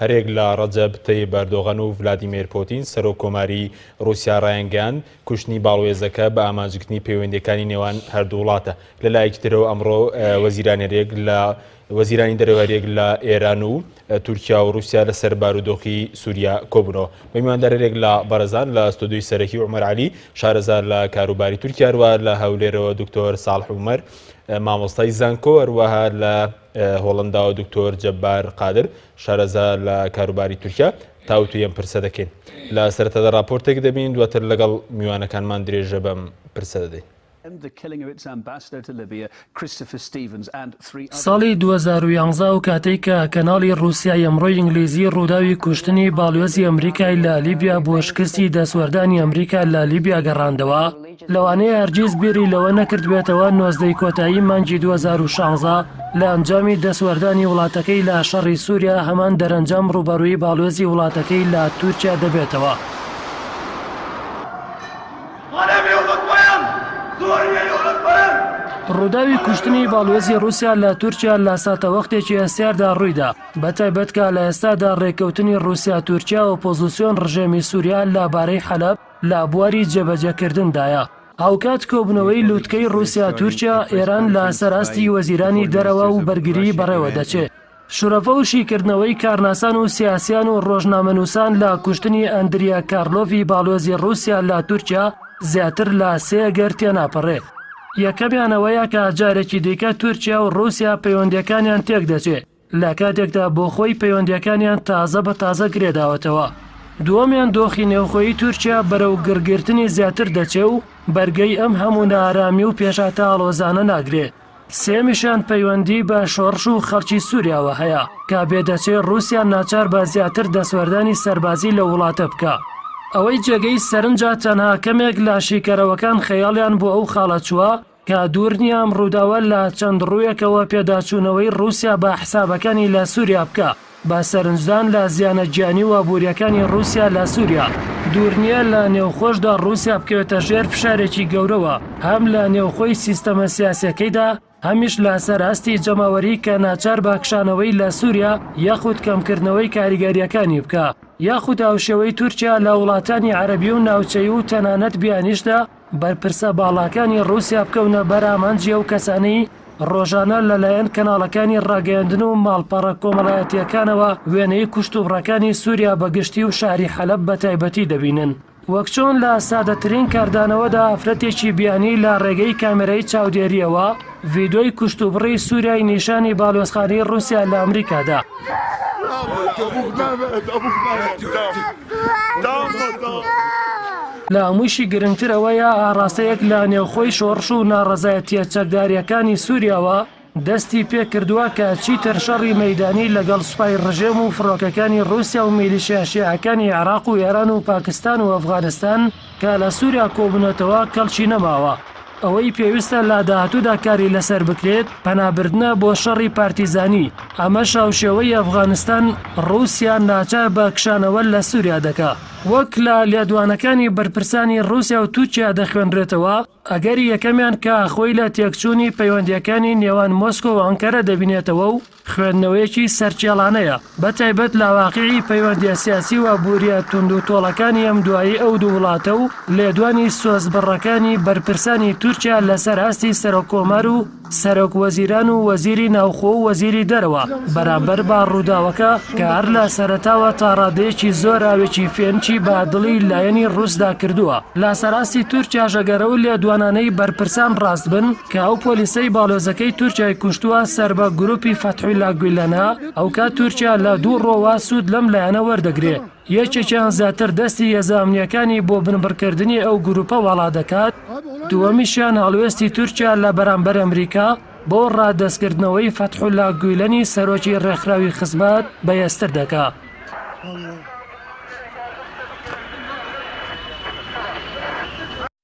هەریەک لە ڕەجەب تەیب ئەردۆغان و ڤلادیمێر پۆتین، سەرۆک کۆماری ڕووسیا ڕایانگەیاند، کوشتنی باڵوێزەکە بە ئامانجگرتنی پەیوەندییەکانی نێوان هەردوو وڵاتە. لە لایەکی ترەوە ئەمڕۆ وەزیران هەریەک لە وەزیرانی دەرەوە هەریەک لە ئێران و تورکیا و ڕووسیا لەسەر بارودۆخی سووریا کۆبوونەوە. بە میواندار هەریەک لە بەڕێزان لە ستۆدیۆی سەرەکی عومەر عەلی، شارەزا لە کاروباری تورکیا، هەروەها لە هەولێرەوە دکتۆر ساڵح عومەر، مامۆستای زانکۆ، هەروەها لە. هۆڵەنداوە دکتۆر جەبار قادر شارەزا لە کاروباری تورکیا تاوتو یەم پرسە دەکەین لە سەرەتادا راپۆرتێک دەبین دواتر لەگەڵ میوانەکانمان درێژە بەم پرسە دەدەین. ساڵی دوو هەزار و یازدە ئەو کاتەی کە کەناڵی ڕوسیای ئەمڕۆی ئینگلیزی ڕووداوی کوشتنی باڵیۆزی ئەمریکای لە لیبیا بۆ شکستی دەستوەردانی ئەمریکا لە لیبیا گەڕاندەوە، لەوانەیە هەرگیز بیری لەوە نەکردبێتەوە نۆزدەی کۆتایی مانگی دوو هەزار و شانزە لە ئەنجامی دەستوەردانی وڵاتەکەی لە شەڕی سوریا هەمان دەرەنجام ڕووبەڕووی باڵوێزی وڵاتەکەی لە تورکیا دەبێتەوە. ڕووداوی کوشتنی باڵوێزی ڕووسیا لە تورکیا لە ساتەوەختێکی هەستیاردا ڕوویدا بە تایبەت کە لە ئێستادا ڕێککەوتنی ڕووسیا تورکیا ئۆپۆزیسیۆن ڕژێمی سوریا لە بارەی حەلەب لە بواری جێبەجێکردندایە. هاوکات کۆبوونەوەی لووتکەی ڕووسیا، تورکیا، ئێران لە سەر ئاستی وەزیرانی دەرەوە و بەرگریی بەڕێوە دەچێ. شرۆڤە و شیکردنەوەی کارناسان و سیاسییان و ڕۆژنامەنووسان لە کوشتنی ئەندریا کارلۆڤی باڵوێزی ڕووسیا لە تورکیا زیاتر لە سێ گەر تێناپەڕێ. یەکەمیان ئەوەیە کە جارێکی دیکە تورکیا و ڕووسیا پەیوەندییەکانیان تێک دەچێ. لە کاتێکدا بۆ خۆی پەیوەندییەکانیان تازە بە تازە گرێداوەتەوە. دووەمیان دۆخی نێوخۆیی تورکیا بەرەو گڕگرتنی زیاتر دەچێ و بەرگەی ئەم هەموو نائارامی و پێشهاتە ئاڵۆزانە ناگرێ. سێیەمیشیان پەیوەندیی بە شۆڕش و خەڵکی سووریاوە هەیە، کە بێ دەچێ ڕووسیا ناچار بە زیاتر دەستوەردانی سەربازی لەو وڵاتە بکا. ئەوەی جێگەی سەرنجە تەنها کەمێک لە شیکەرەوەکان خەیاڵیان بۆ ئەو خاڵە چووە، کە دوور نییە ئەم ڕووداوە لە چەند ڕوویەکەوە پێداچوونەوەی ڕووسیا بە حسابەکانی لە سووریا بکا، بە سەرنجدان لە زیانە گیانی و ئابوورییەکانی ڕووسیا لە سووریا، دوور نییە لە نێوخۆشدا ڕووسیا بکەوێتە ژێر فشارێکی گەورەوە، هەم لە نێوخۆی سیستەمە سیاسییەکەیدا، هەمیش لە سەر ئاستی جەماوەری کە ناچار بە کشانەوەی لە سووریا یاخود کەمکردنەوەی کاریگەرییەکانی بکا، یاخود هاوشێوەی تورکیا لە وڵاتانی عەرەبی و ناوچەیی و تەنانەت بیانیشدا، بەرپرسە باڵاکانی ڕووسیا بکەونە بەر ئامانجی ئەو کەسانەی ڕۆژانە لەلایەن کەناڵەکانی ڕاگەیاندن و ماڵپەڕە کۆمەڵایەتییەکانەوە وێنەی کوشتوبڕەکانی سووریا بە گشتی و شاری حەلەب بە تایبەتی دەبینن. وەک چۆن لە سادەترین کاردانەوەدا ئافرەتێکی بیانی لە ڕێگەی کامێرای چاودێرییەوە ڤیدۆی کوشتوبڕی سووریای نیشانی باڵیۆزخانەی ڕووسیا لە ئەمریکا دا. لە هەموویشی گرنگتر ئەوەیە ئاڕاستەیەک لە نێوخۆی شۆڕش و ناڕەزایەتییە چەکدارییەکانی سووریاوە دەستی پێ کردووە کە چیتر شەڕی مەیدانی لەگەڵ سوپای ڕژێم و فڕۆکەکانی ڕووسیا و میلیشیا شیعەکانی عێراق و ئێران و پاکستان و ئەفغانستان کە لە سوریا کۆبونەتەوە کەڵکی نەماوە، ئەوەی پێویستە لە داهاتودا کاری لەسەر بکرێت پەنابردنە بۆ شەڕی پارتیزانی، ئەمەش هاوشێوەی ئەفغانستان ڕوسیا ناچار بە کشانەوە لە سوریا دەکا. وەک لە لێدوانەکانی بەرپرسانی ڕوسیا و تورکیا دەخوێنرێتەوە، ئەگەری یەکەمیان کە خۆی لە تێکچوونی پەیوەندییەکانی نێوان مۆسکۆ و ئەنکەرە دەبینێتەوە و خوێندنەوەیەکی سەرچێڵانەیە، بەتایبەت لە واقیعی پەیوەندییە سیاسی و ئابوورییە توندوتۆڵەکانی ئەمدوایی ئەو دوو وڵاتە و لێدوانی سۆزبڕەکانی بەرپرسانی تورکیا لەسەر ئاستی سەرۆککۆمار و سەرۆک وەزیران و وەزیری ناوخۆ و وەزیری دەرەوە بەرامبەر بە ڕووداوەکە کە هەر لە سەرەتاوە تا ڕادەیەکی زۆر ئاوێکی فێنکی بە دڵی لایەنی ڕووسدا کردووە لە سەراستی تورکیاش ئەگەر ئەو لێدوانانەی بەرپرسان ڕاست بن کە ئەو پۆلیسەی باڵۆزەکەی تورکیای کوشتووە سەر بە گروپی فەتحولا گویلەنە ئەوکات تورکیا لە دوو ڕۆوە سوود لەم لایەنە وەردەگرێ. یەکێکیان زیاتر دەستی هێزە ئەمنییەکانی بۆ بنبڕکردنی ئەو گرووپە واڵا دەکات، دووەمیشیان هەڵوێستی تورکیا لە بەرامبەر ئەمریکا بۆ ڕادەستکردنەوەی فەتحولا گویلەنی سەرۆکی ڕێکخراوی خزمەت بەهێزتر دەکات.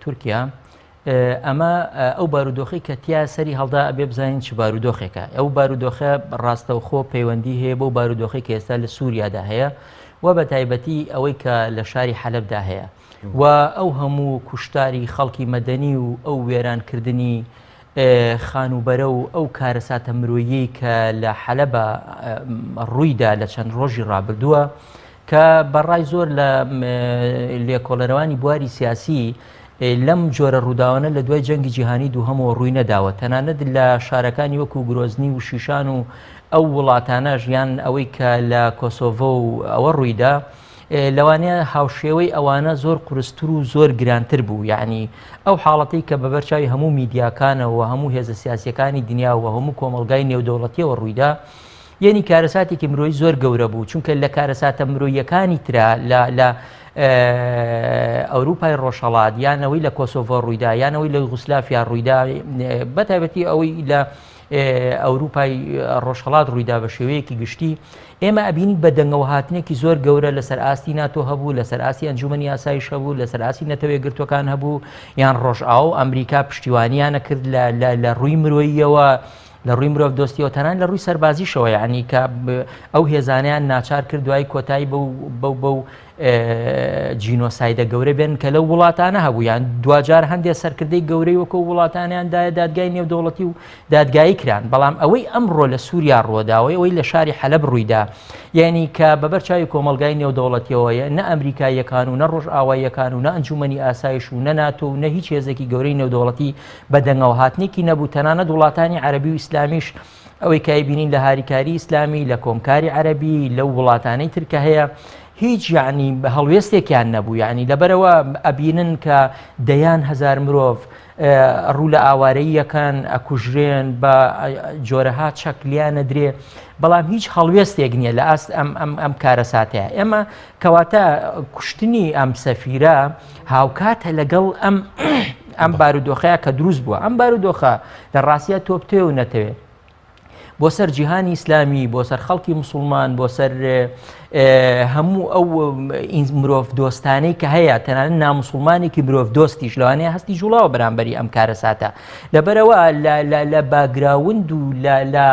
تورکیا ئەمە ئەو بارودۆخی کە تیا سەری هەڵدا ئەبێ بزانین چ بارودۆخێکە ئەو بارودۆخە ڕاستەوخۆ پەیوەندی هەیە بۆ بارودۆخی کە ئێستا لە سووریادا هەیە و بە تایبەتی ئەوەی کە لە شاری حەلبدا هەیە و ئەو هەموو کوشتاری خەڵکی مەدەنی و ئەو وێرانکردنی خانووبەرە و ئەو کارەساتە مرۆییەی کە لە حەلەبە ڕوویدا لە چەند ڕۆژی ڕابردووە کە بەڕای زۆر لە لێکۆڵەرەوانی بواری سیاسی لەم جۆرە ڕووداوانە لە دوای جەنگی جیهانی دووهەمەوە ڕووی نەداوە تەنانەت لە شارەکانی وەکو گرۆزنی و شیشان و ئەو وڵاتانە ژیان ئەوەی کە لە کۆسۆڤۆ و ئەوە ڕوویدا لەوانەیە هاوشێوەی ئەوانە زۆر قورستر و زۆر گرانتر بوو یعنی ئەو حاڵەتی کە بەبەر چاوی هەموو میدیاکانەوە هەموو هێزە سیاسیەکانی دنیاوە هەموو کۆمەلگای نێودەوڵەتیەوە ڕوویدا یعنی کارەساتێکی مرۆی زۆر گەورە بوو چونکە لە کارەساتە مرۆیەکانی تررا لە لە ئەوروپای ڕۆژهڵات یانەوەی لە کۆسۆڤۆ ڕوویدا یانەوەی لە غوسلافیا ڕوویدا بەتابەتی ئەوەی لە ئەوروپای ڕۆژهەڵات ڕوویدا بە شێوەیەکی گشتی ئێمە ئەبینین بە دەنگەوە هاتنێکی زۆر گەورە لەسەر ئاستی ناتۆ هەبوو لەسەر ئاستی ئەنجومی یاسایش هەبوو لەسەر ئاسی نەتەوەی گرتوەکان هەبوو یان ڕۆژئاو ئەمریکا پشتیوانیانە کرد لە ڕووی مرۆییەوە لە ڕووی مرۆڤ دۆستیەوە تەنان لە ڕووی سەربازیشەوە یعنی کە ئەو هێزانیان ناچار کرد دوای کۆتایی بەو بەو جینۆسایدە گەورە بێن کە لەو وڵاتانە هەبوویان دواجار هەندێک سەرکردەی گەورەی وەکو وڵاتانیان دایە دادگای نێودەوڵەتی و دادگایی کران بەڵام ئەوەی ئەمڕۆ لە سووریا ڕۆداوەی ئەوەی لە شاری حەلب ڕوویدا یعنی کە بەبەر چاوی کۆمەلگای نێودەوڵەتیەوەیە نە ئەمریکاییەکان و نە ڕۆژ ئاواییەکان و نە ئەنجومنی ئاسایش و نە ناتۆ و نە هیچ هێزێکی گەورەی نێودەوڵەتی بە دەنگەوە هاتنێکی نەبوو تەنانەت وڵاتانی عەربی و ئیسلامیش ئەوەی کای بینین لە هاریکاری ئیسلامی لە کۆمکاری عەربی لەو وڵاتانەی ترکە هەیە هیچ یعنی بە هەڵوێستێکیان نەبوو یعنی لەبەرەوە ئەبینن کە دەیان هزار مرۆڤ ڕوو لە ئاوارەیەکان ئەکوژرێن بە جۆرەها چەکلیان نەدرێ بەڵام هیچ هەڵوێستێک نییە لە ئاست ئەم ئەم ئەم کارەساتەیە ئێمە کەواتە کوشتنی ئەم سەفیرە هاوکاتە لەگەڵ ئەم ئەم بارودۆخەیە کە دروست بووە ئەم بارودۆخە لە ڕاستیا تۆ بتەوێ و نەتەوێ بۆ سەر جیهانی ئیسلامی بۆ سەر خەڵکی مسلمان بۆ سەر هەموو ئەو مرۆڤ دۆستانەی کە هەیە تەنانە نامسلمانێکی مرۆڤ دۆستیش لەوانەیە هەستی جوڵاوە بەرامبەری ئەم کارە ساتە لەبەرەوە لە باگراوند و لە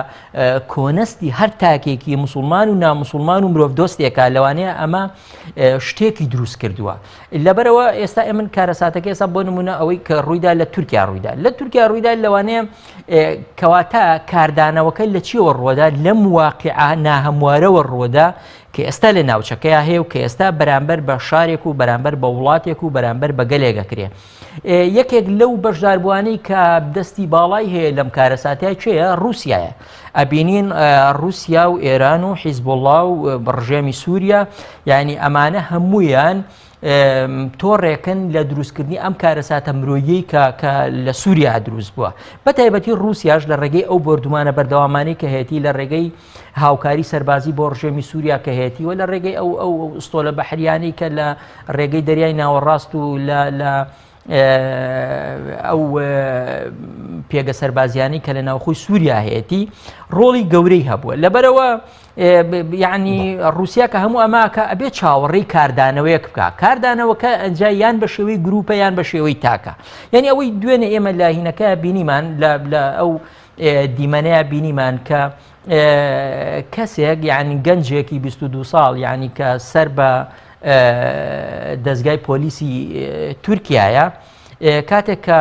کۆنەستی هەر تاکێکی مسلمان و نامسلمان و مرۆڤ دۆستێکە لەوانەیە ئەمە شتێکی دروست کردووە لەبەرەوە ئێستا ئێمن کارەساتەکە ئێستا بۆ نمونە ئەوەی کە ڕوویدا لە تورکیا ڕوویدا لە تورکیا ڕوویدا لەوانەیە کەواتە کاردانەوەکە لە چیەوە ڕۆدا لەم واقع ناهەموارەوە ڕۆدا کە ئێستا لە ناوچەکەی هەیە و کە ئێستا بەرامبەر بە شارێک و بەرامبەر بە وڵاتێک و بەرامبەر بە گەلێگەکرێ یەکێک لەو بەشداربووانەی کە دەستی باڵای هەیە لەم کارەساتەیە کێیە رووسایە ئەبینین رووسیا و ئێران و حیزبوڵا و بڕژێمی سووریا یعنی ئەمانە هەمویان تۆڕێکن لە دروستکردنی ئەم کارەساتە مرۆیی کە کە لە سووریا دروست بووە بە تایبەتی رووسیاش لە ڕێگەی ئەو بردومانە بەردەوامانی کە هەیەی لە ڕێگەی هاوکاری سەربازی بۆ ڕژێمی سووریا کە هەیەتی و لە ڕێگەی ئەو ئەو ئستۆلە بەحریانی کە لە ڕێگەی دەریای ناوەڕاست و لە ئەو پێگە سەربازیانی کە لە ناوخۆی سووریا هەیەتی ڕۆڵی گەورەی هەبووە لەبەرەوە ینی رووسیا کە هەموو ئەماکە ئەبێ چاوەڕێی کاردانەوەیەک بکە کاردانەوەکە ئەجا یان بە شێوەی گروپە یان بە شێوەی تاکە یعنی ئەوەی دوێنێ ئێمە لاهینەکە بینیمان لە ئەو دیمەنەیە بینیمان کە کەسێک یعنی گەنجێکی 22 ساڵ یعنی کە سەر بە دەستگای پۆلیسی تورکایە کاتێک کە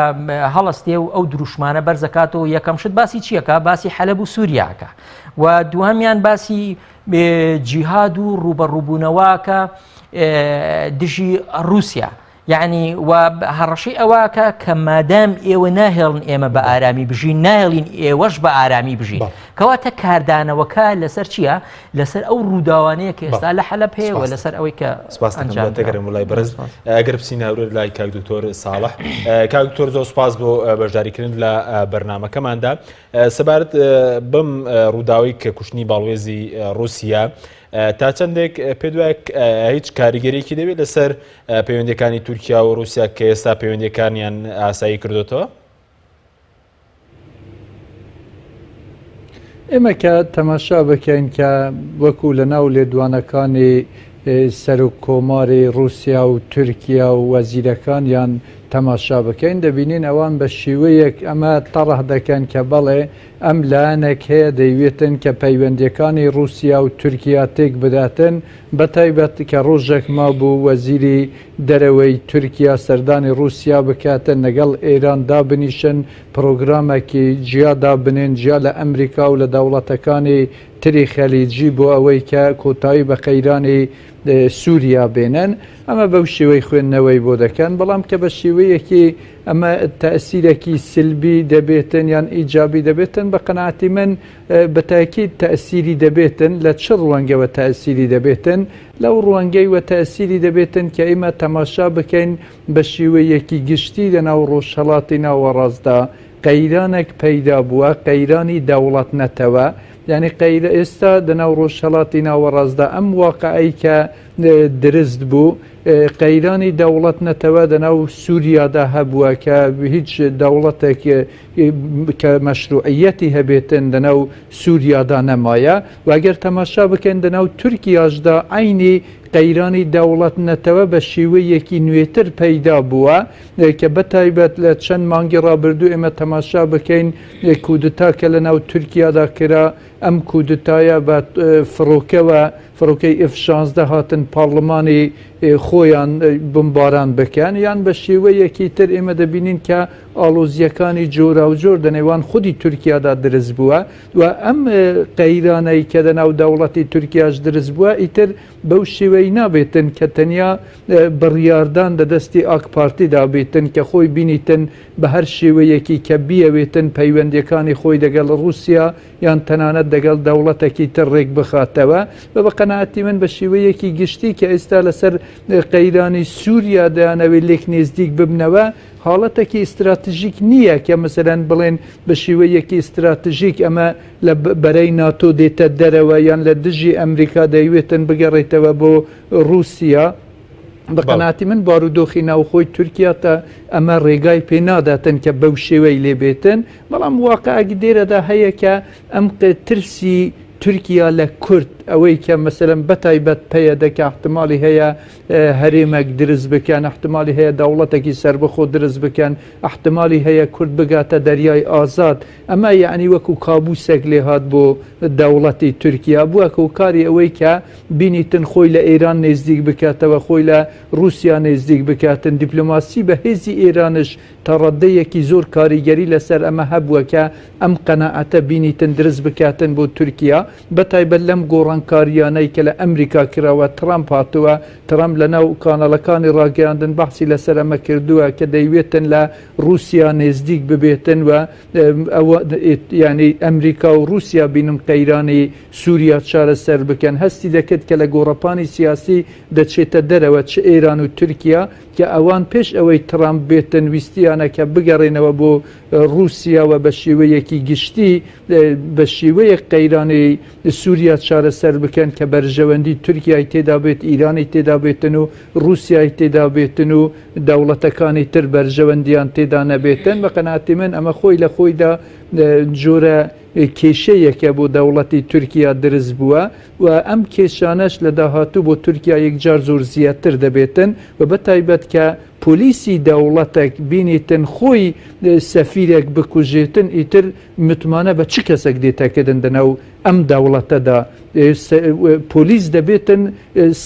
هەڵستێ و ئەو دروشمانە بەرزەکاتەوە یەکەم شت باسی چیەکە باسی حەلب و سووریاکە و دوهامیان باسی جیهاد و ڕوبەڕووبوونەوەکە دژی ڕوسیا یەعنی وا هەڕەشەی ئەوەکە کە مادام ئێوە ناهێڵن ئێمە بە ئارامی بژین ناهێڵین ئێوەش بە ئارامی بژین کەواتە کاردانەوەکە لەسەر چییە لەسەر ئەو ڕووداوانەیە کە ئێستا لە حەلە پێوە لەسەر ئەوەی کە سپاسگەرم لای بەرز ئەگەر بچین هاورێت لای کاک دکتۆر ساڵح کاک دکتۆر زۆر سپاس بۆ بەشداریکردن لە بەرنمەکەماندا سەبارەت بم ڕووداوی کە کوشتنی باڵوێزی رووسیا تا چەندێک پێت وایە هیچ کاریگەریەکی دەبێت لەسەر پەیوەندەکانی تورکیا و رووسیا کە ئێستا پەیوەندەکانیان ئاسایی کردوێتەوە؟ ئێمە کە تەماشا بکەین کە وەکو لە ناو لێدوانەکانی سەرک کۆماری رووسیا و تورکیا و وەزیرەکانیان تەماشا بکەین دەبینین ئەوان بە شێوەیەک ئەمە تەڕح دەکەن کە بەڵێ ئەم لایەنەک هەیە دەیوێتن کە پەیوەندیەکانی ڕوسیا و تورکیا تێک بداتن بە تایبەت کە ڕۆژەک مابوو وەزیری دەرەوەی تورکیا سەردانی ڕوسیا بکاتن لەگەڵ ئێران دابنیشن پڕۆگرامەکی جیا دابنێن جیا لە ئەمریکا و لە دەوڵەتەکانی تری خەلیجی بۆ ئەوەی کە کۆتایی بە قەیرانی سوریا بێنن ئەمە بەو شێوەی خوێندنەوەی بۆ دەکەن بەڵام کە بە شێوەیەکی ئەمە تەسیرەکی سلبی دەبێتن یان ئیجابی دەبێتن بە قەنەعاتی من بەتاکی تەسیری دەبێتن لە چ ڕوەنگەوە تەسیری دەبێتن لەو ڕوەنگەی وە تەسیری دەبێتن کە ئیمە تەماشا بکەین بە شێوەیەکی گشتی لە ناو ڕۆژهڵاتی ناوەڕاستدا قەیرانێک پەیدا بووە قەیرانی دەوڵەت نەتەوە یعنی قەیرە ئێستا دەناو ڕۆژهەڵاتی ناوەڕاستدا ئەم واقعی کە درست بوو قەیرانی دەوڵەت نەتەوە دەناو سووریادا هەبووە کە هیچ دەوڵەتێک کە مەشروعەتی هەبێتن دەناو سووریادا نەمایە واگەر تەماشا بکەن دەناو تورکیاشدا ئاینی قەیرانی دەوڵەت نەتەوە بە شێوەیەکی نوێتر پەیدا بووە کە بە تایبەت لە چەند مانگی ڕابردوو ئێمە تەماشا بکەین کودتا کە لە ناو تورکیادا کرا ئەم کودتایە بە فڕۆکەوە فڕۆکەی ئف شانزدە هاتن پارلمانی خۆیان بمباران بکەن یان بە شێوەیەکی تر ئێمە دەبینین کە ئاڵۆزیەکانی جۆرا و جۆر دەنێوان خودی تورکیادا درست بووە و ئەم قەیرانەی کە لە ناو دەوڵەتی تورکیاش درست بووە ئیتر بەو شێوەیە نابێتن کە تەنیا بڕیاردان لە دەستی ئاک پارتیدا بێتن کە خۆی بینیتن بە هەر شێوەیەکی کە بیەوێتن پەیوەندیەکانی خۆی دەگەڵ ڕووسیا یان تەنانەت دەگەڵ دەوڵەتەکی تر ڕێک بخاتەوە و بە قەناعەتی من بە شێوەیەکی گشتی کە ئێستا لەسەر قەیرانی سووریا دەیانەوێت لێک نێزدیک ببنەوە حاڵەتەکی ئیستراتژیک نییە کە مەسەلەن بڵێن بە شێوەیەکی ئیستراتژیک ئەمە لە بەرەی ناتۆ دێتە دەرەوە یان لە دژی ئەمریکا دەیوێتن بگەڕێتەوە بۆ ڕووسیا بە قەناتی من بارودۆخی ناوخۆی تورکیا تا ئەمە ڕێگای پێ ناداتن کە بەو شێوەی لێ بێتن بەڵام واقعگی دێرەدا هەیە کە ئەم ترسی تورکیا لە کورد ئەوەی کە مەسەرم بەتایبەت پەیە دەکە احتمالی هەیە هەرێمەک درست بکەن احتمالی هەیە دەوڵەتێکی سربەخۆ درست بکەن احتمالی هەیە کورد بگاتە دەریای ئازاد ئەمە یەعنی وەکو کابوسێک لێهات بۆ دەوڵەتی تورکیا بوە هۆکاری ئەوەی کە بینیتن خۆی لە ئێران نێزدیک بکاتەوە خۆی لە روسیا نێزدیک بکاتن دیپلۆماسی بەهێزی ئێرانش تا ڕەدەیەکی زۆر کاریگەری لەسەر ئەمە هەبوە کە ئەم قەناعەتە بینیتن درست بکاتن بۆ تورکیا بە تایبەت لەم گۆڕانکاریانەی کە لە ئەمریکا کراوە ترامپ هاتوە ترامپ لەناو کاناڵەکانی ڕاگەیاندن بەحسی لەسەر ئەمە کردوە کە دەیوێتن لە ڕوسیا نێزدیک ببێتن و ئەوە یانی ئەمریکا و ڕوسیا بینن قەیرانی سوریا چارەسەر بکەن هەستی دەکرد کە لە گۆڕەپانی سیاسی دەچێتە دەرەوە چ ئێران و تورکیا کە ئەوان پێش ئەوەی تڕامپ بێتن ویستیانە کە بگەڕێنەوە بۆ ڕوسیا و بە شێوەیەکی گشتی بە شێوەیەک قەیرانی سوریا چارەسەر بکەن کە بەرژەوەندی تورکیای تێدابێت ئیرانی تێدابێتن و ڕوسیای تێدابێتن و دەوڵەتەکانی تر بەرژەوەندیان تێدا نەبێتن بە قەناعەتی من ئەمە خۆی لە خۆیدا جۆرە کێشەیەکە بۆ دەوڵەتی تورکیا درست بووە و ئەم کێشانەش لە داهاتوو بۆ تورکیا یەکجار زۆر زیاتر دەبێتن و بە تایبەت کە پۆلیسی دەوڵەتێک بینیتن خۆی سەفیرێک بکوژێتن ئیتر متمانە بە چ کەسێک دێتەکردن دەناو ئەم دەوڵەتەدا پۆلیس دەبێتن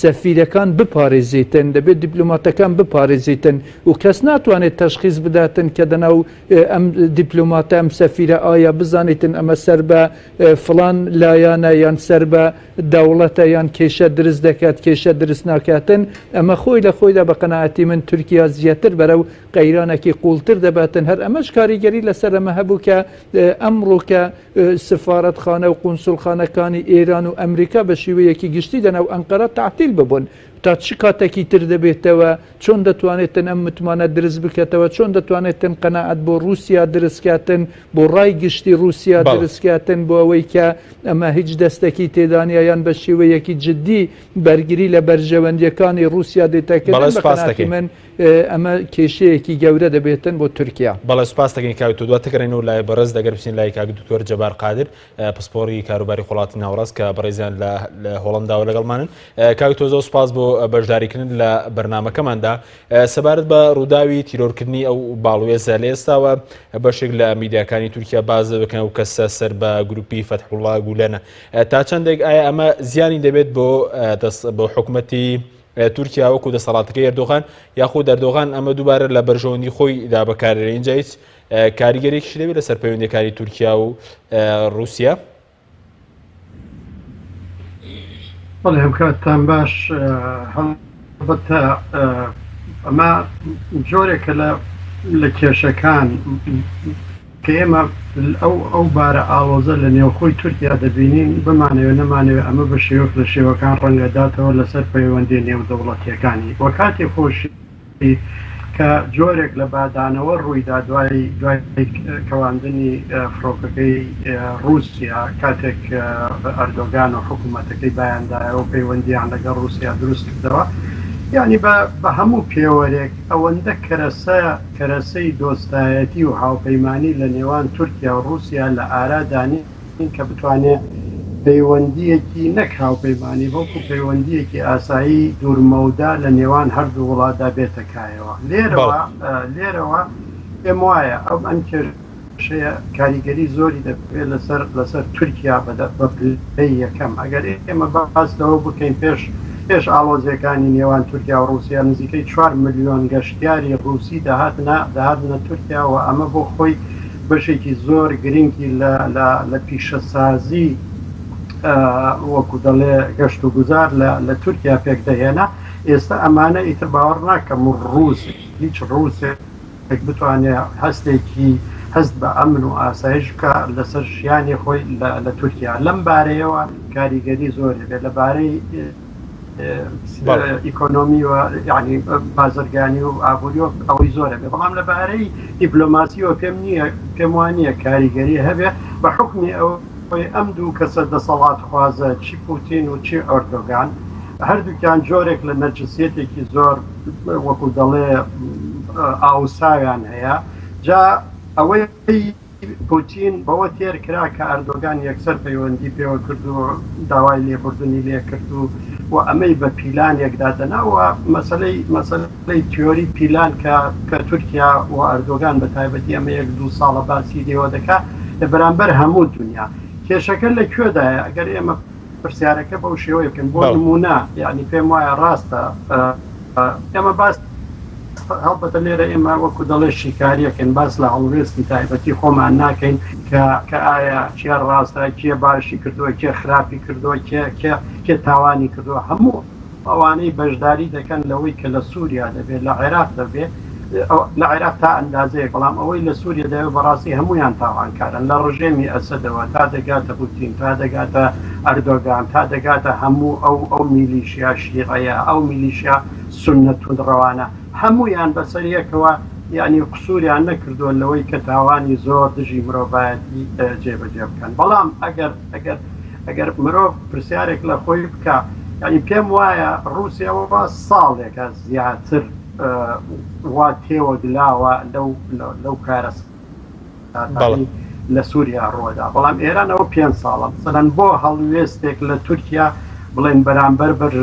سەفیرەکان بپارێزیتن دەبێت دیپلوماتەکان بپارێزیتن و کەس ناتوانێت تەشخیز بداتن کە دەناو ئەم دیپلوماتە ئەم سەفیرە ئایا بزانیتن ئەمە سەر بە فلان لایەنە یان سەر بە دەوڵەتە یان کێشە درست دەکات کێشە درست ناکاتن ئەمە خۆی لە خۆیدا بە قەنەعەتی من تورکیا زیاتر بەرە و قەیرانێکی قوڵتر دەباتن هەر ئەمەش کاریگەری لەسەر ئەمە هەبوو کە ئەمڕۆکە سفارەتخانە و قونسوڵخانەکانی ئێران و ئەمریکا بە شیوەیەکی گشتی لە ناو ئەنقەرە تەعتیل ببن تا چ کاتەکی تر دەبێتەوە؟ چۆن دەتوانێتن ئەم متمانە درست بکەتەوە؟ چۆن دەتوانێتن قەناعەت بۆ ڕووسیا درست کاتن؟ بۆ ڕای گشتی ڕووسیا بەڵێ. درست کاتن بۆ ئەوەی کە ئەمە هیچ دەستەکی تێدا نیە یان بە شیوەیەکی جدی بەرگری لە بەرژەوەندیەکانی ڕووسیا دێتە بەڵێ کردن بە سوپاست قەناعەتی دەکەین. من ئەمە کێشەیەکی گەورە دەبێتن بۆ تورکیا. بەڵێ سوپاس دەکەین کاک تۆ دواتر گەڕێنەوە لای بەڕێز دەگەر بچین لای کاک دکتۆر جەبار قادر پسپۆڕی کاروباری خۆڵاتی ناوڕاست کە بەڕێزیان لە هۆڵنداوە لەگەڵمانن کاک تۆزۆ سوپاس بۆ بەشداریکردن لە بەرنمەکەماندا سەبارەت بە ڕووداوی تیرۆرکردنی ئەو باڵوێزە لە ئێستاوە بەشێک لە میدیاکانی تورکیا باز بکەن و کەسە سەر بە گروپی فەتحوڵا گولەنە تا چەندێک ئایا ئەمە زیانی دەبێت بۆ دەست بۆ حکوومەتی تورکیا وەکو دەسەڵاتەکەی ئەردۆغان یاخود ئەردۆغان ئەمە دووبارە لە بەرژەوەندی خۆی دا بەکارێنێ اینجا هیچ کاریگەرێکیشی دەبێت لەسەر پەیوەندەکانی تورکیا و رووسیا بەڵێ هەمکاتتان باش هەڵبەتە ئەمە جۆرێکە لە لە کێشەکان کە ئێمە ئەو ئەو بارە ئاڵۆزە لە نێوخۆی تورکیا دەبینین، بمانەوێ نەمانەوێ ئەمە بە شێوەک لە شێوەکان ڕەنگەداتەوە لەسەر پەیوەندییە نێودەوڵەتییەکانی و کاتی خۆشی کە جۆرێک لە بادانەوە ڕوویدا دوای دوای کەواندنی فڕۆکەکەی ڕووسیا کاتێک ئەردۆگان و حکوومەتەکەی بایاندایەوە پەیوەندیان لەگەڵ ڕووسیا دروست کردەوە یانی بە هەموو پێوەرێک ئەوەندە کەرەسە کەرەسەی دۆستایەتی و هاوپەیمانی لە نێوان تورکیا و ڕووسیا لە ئارا دانێن کە بتوانێت پەیوەندییەکی نەک هاوپەیمانی بەڵکو پەیوەندییەکی ئاسایی دوورمەودا لە نێوان هەردوو وڵاتدا بێتە کایەوە. لێرەوە پێم وایە ئەم کێشە. کێشەیە کاریگەری زۆری دەبێت لەسەر لەسەر تورکیا بە پلەی یەکەم ئەگەر ئێمە باس لەوە بکەین پێش پێش ئاڵۆزیەکانی نێوان تورکیا و رووسیا نزیکەی 4 ملیۆن گەشتیاری رووسی دەهاتنە دەهاتنە تورکیا و ئەمە بۆ خۆی بەشێکی زۆر گرنگی لە پیشەسازی وەکو دەڵێ گەشت و گوزار لە تورکیا پێک دەهێنا ئێستا ئەمانە ئیتر باوەڕ ناکەم و رووس هیچ رووسێک کەسێک بتوانێ هەستێکی هەست بە ئەمن و ئاسایش بکا لەسەر ژیانی خۆی لە تورکیا لەم بارەیەوە کاریگەری زۆری بێت لە بارەی ئیکۆنۆمی و ینی بازرگانی و ئابووری و ئەوەی زۆرە بێ بەڵام لەبارەی دیپلۆماسیەوە پێم نییە پێم وانە کاریگەری هەبێ بە حکمی ئەو خۆی ئەم دوو کەسە دەسەڵات خوازە چی پوتین و چی ئۆردۆگان هەردووکیان جۆرێک لە نەرجسیەتێکی زۆر وەکو دەڵێ ئاوساویان هەیە جا ئەوەی پوتین بەوە تێر کرا کە ئەردۆگان یەکسەر پەیوەندی پێوە کرد و داوای لێبوردنی لێ کرد و و ئەمەی بە پیلانێکدا دەناوە مەسلەی مەسلەی تیۆری پیلان کە کە تورکیا و ئەردۆگان بە تایبەتی ئەمە یەک دوو ساڵە باسی لێوە دەکا لە بەرامبەر هەموو دنیا کێشەکە لە کوێدایە ئەگەر ئێمە پرسیارەکە بەو شێوەیە بکەن بۆ نمونە یعنی پێم وایە ڕاستە ئێمە باس هەڵبەتە لێرە ئێمە وەکو دەڵێ شیکاریەکەن باس لە هەڵوێستی تایبەتی خۆمان ناکەین کە کە ئایا کێ ڕاستە کێ باشی کردووە کێ خراپی کردووە کێ کێ کێ تاوانی کردووە هەموو ئەوانەی بەشداری دەکەن لەوەی کە لە سوریا دەبێت لە عێراق دەبێت لە عێراق تا ئەندازەیەک بەڵام ئەوەی لە سوریا دەبێت بەڕاستی هەموویان تاوانکارن لە ڕژێمی ئەسەدەوە تا دەگاتە پوتین تا دەگاتە ئەردۆگان تا دەگاتە هەموو ئەو ئەو میلیشیا شیڕەیە ئەو میلیشیا سونە توندڕەوانە هەموویان بەسەر یەکەوە یعنی قسووریان نەکردووە لەوەی کە تاوانی زۆر دژی مرۆڤایەتی جێبەجێ بکەن بەڵام ئەگەر دەکرد ئەگەر مرۆڤ پرسیارێک لە خۆی بکا یانی پێم وایە ڕوسیاەوە ساڵێکە زیاتر وا تێوەگلاوە لەو لەو کارە لە سووریا ڕوەدا بەڵام ئێرانەوە پێ ساڵە سەدەن بۆ هەڵوێستێک لە تورکیا بڵێن بەرامبەر بەر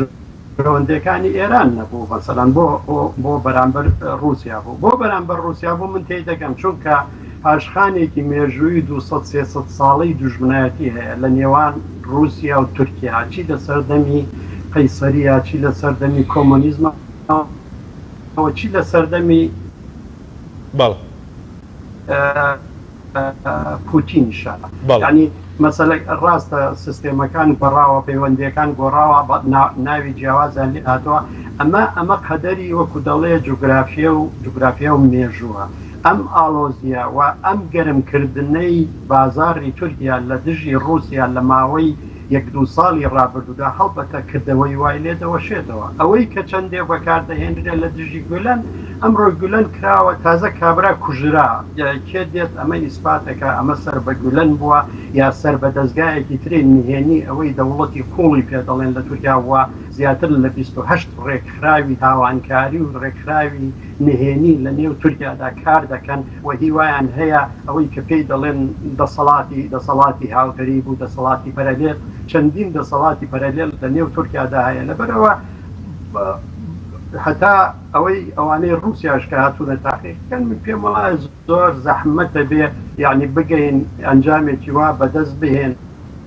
ڕەوەندەکانی ئێران نەبوو مەسەلەن بۆ بۆ بۆ بەرامبەر ڕووسیا بوو بۆ بەرامبەر ڕووسیا بوو من تێی دەگەم چونکە پاشخانێکی مێژووی دوو سەد سێ سەد ساڵەی دوژمنایەتی هەیە لە نێوان ڕووسیا و تورکیا چی لە سەردەمی قەیسەریا چی لە سەردەمی کۆمۆنیزمە چی لە سەردەمی بەڵێ. پوتین شەرە ینی مەسەلەک ڕاستە سیستێمەکان گۆڕاوە پەیوەندەکان گۆڕاوە بە ناوی جیاوازیان لێ هاتووە ئەمە ئەمە قەدەری وەکو دەڵێ جوگرافیە و جوگرافیا و مێژووە ئەم ئاڵۆزیە و ئەم گەرمکردنەی بازاری تورکیا لە دژی ڕوسیا لە ماوەی یەک دوو ساڵی ڕابردوودا هەڵبەتە کردەوەی وای لێ دەوەشێتەوە ئەوەی کە چەندێ بەکار دەهێنرێت لە دژی گولەن ئەمڕۆ گولەن کراوە تازە کابرا کوژرا کێ دێت ئەمە ئیسپاتەکە ئەمە سەر بە گولەن بووە یا سەر بە دەزگایەکی تری نهێنی ئەوەی دەوڵەتی قوڵی پێ دەڵێن لە تورکیا وە زیاتر لە بیست و هەشت ڕێکخراوی تاوانکاری و ڕێکخراوی نهێنی لە نێو تورکیادا کار دەکەن و هیوایان هەیە ئەوەی کە پێی دەڵێن دەسەڵاتی دەسەڵاتی هاوتەریب و دەسەڵاتی پەرەلێل چەندین دەسەڵاتی پەرەلێل لە نێو تورکیادا هەیە لەبەرئەوە هەتا ئەوەی ئەوانەی ڕوسیاش کە هاتوونە تاقی بکەن من پێم وڵا زۆر زەحمەتە بێ یعنی بگەین ئەنجامێکی وا بەدەست بهێن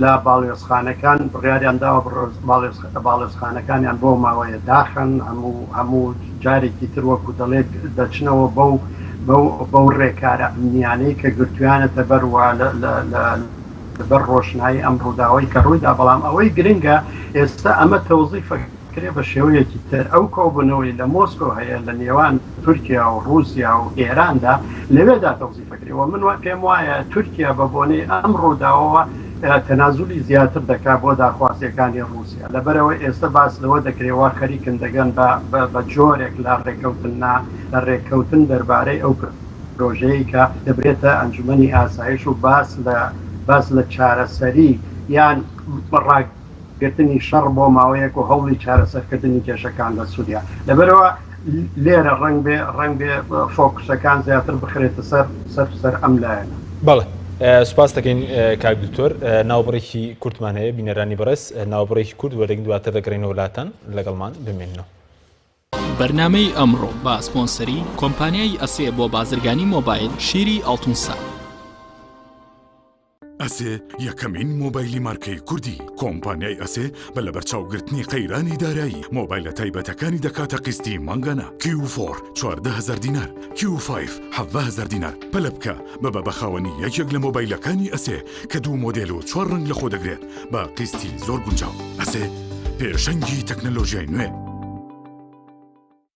لە باڵوێزخانەکان بڕیاریان داوە باڵوێزخانەکانیان بۆ ماوەیە داخەن هەموو هەموو جارێکی تر وەکو دەڵێت دەچنەوە بەو بەو ڕێکارە ئەمنیانەی کە گرتویانەتە بەروە بەر ڕۆشنایی ئەم ڕووداوی کە ڕوویدا بەڵام ئەوەی گرنگە ئێستا ئەمە تەوزیفە کرێ بە شێوەیەکی تر ئەو کۆبوونەوەی لە مۆسکۆ هەیە لە نێوان تورکیا و ڕووسیا و ئێراندا لەوێدا تەوزیفەکرێ و من پێم وایە تورکیا بە بۆنەی ئەم ڕووداوەوە تەنازولی زیاتر دەکات بۆ داخوازیەکانی ڕووسیا لەبەرەوە ئێستا باس لەوە دەکرێەوە خەریکن دەگەن بە جۆرێک لە ڕێککەوتن نا لە ڕێککەوتن دەربارەی ئەو پر پرۆژەیە کە دەبرێتە ئەنجومی ئاسایش و باس لە باس لە چارەسەری یان ڕاک گرتنی شەڕ بۆ ماوەیەک و هەوڵی چارەسەرکردنی کێشەکان لە سوریا. لەبەرئەوە لێرە ڕەنگبێ ڕەنگبێ فۆکوسەکان زیاتر بخرێتە سەر سەر سەر ئەم لایەنە. بەڵێ سوپاس دەکەین کاک دکتۆر. ناوبڕێکی کورتمان هەیە بینەرانی بەڕێز ناوبڕێکی کورت وەردەگرین دواتر دەگەڕێینەوە ولاتان لەگەڵمان بمێننەوە. بەرنامەی ئەمڕۆ بە سپۆنسەری، کۆمپانیای ئەسێ بۆ بازرگانی مۆبایل، شیری ئەڵتونسا. ئەسێ یەکەمین مۆبایلی مارکەی کوردی کۆمپانیای ئەسێ بە لە بەرچاوگرتنی قەیرانی دارایی مۆبایلە تایبەتەکانی دەکاتە قستی مانگانە کیوفۆر 14هزار دینار کیوفایف 1هزار دینار پەلە بکە بە بە بەخاوەنی یەکێک لە مۆبایلەکانی ئەسێ کە دوو مۆدێل و چوار ڕنگ لە خۆ دەگرێت بە قستی زۆر گونجاو ئەسێ پێشەنگی تەکنەلۆژیای نوێ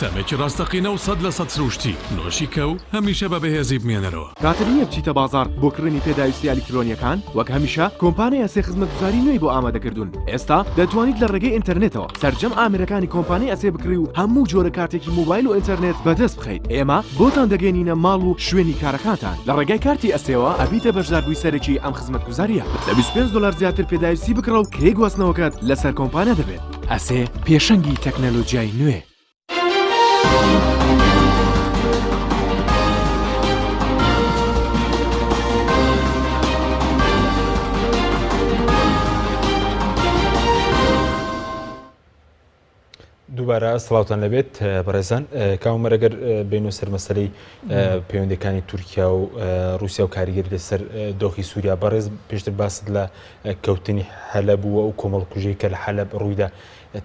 تەمێکی ڕاستەقینە و سەد لە سەد سرووشتی، نۆشی کە و هەمیشە بە بەهێزی بمێنەرەوە. کاتت نییە بچیتە بازاڕ بۆ کڕینی پێداویستییە ئەلیکترۆنییەکان؟ وەک هەمیشە کۆمپانیا ئەسێ خزمەتگوزاری نوێی بۆ ئامادەکردوون. ئێستا دەتوانیت لە ڕێگەی ئینتەرنێتەوە سەرجەم ئامێرەکانی کۆمپانیای ئەسێ بکڕی و هەموو جۆرە کارتێکی مۆبایل و ئینتەرنێت بەدەست بخەیت. ئێمە بۆتان دەگەیەنینە ماڵ و شوێنی کارەکانتان. لە ڕێگای کارتی ئەسێوە ئەبیتە بەشداربووی سەرەکی ئەم خزمەتگوزارییە. لە بیست و پێنج دۆلار زیاتر پێداویستی بکڕە و کرێی گواستنەوەکەت لەسەر کۆمپانیا دەبێت. ئەسێ پێشەنگی تەکنەلۆجیای نوێ. دووبارە سڵاوان لەبێت بەڕێزان کاومەرەگەر بین و سەرمەسەری پەیوەندەکانی تورکیا و رووسیا و کاریگەری لەسەر دۆخی سووریا بەڕێز پێشتر باست لە کەوتنی حەلەب و ئەو کۆمەڵکوژیەی کە لە حەلەب ڕوویدا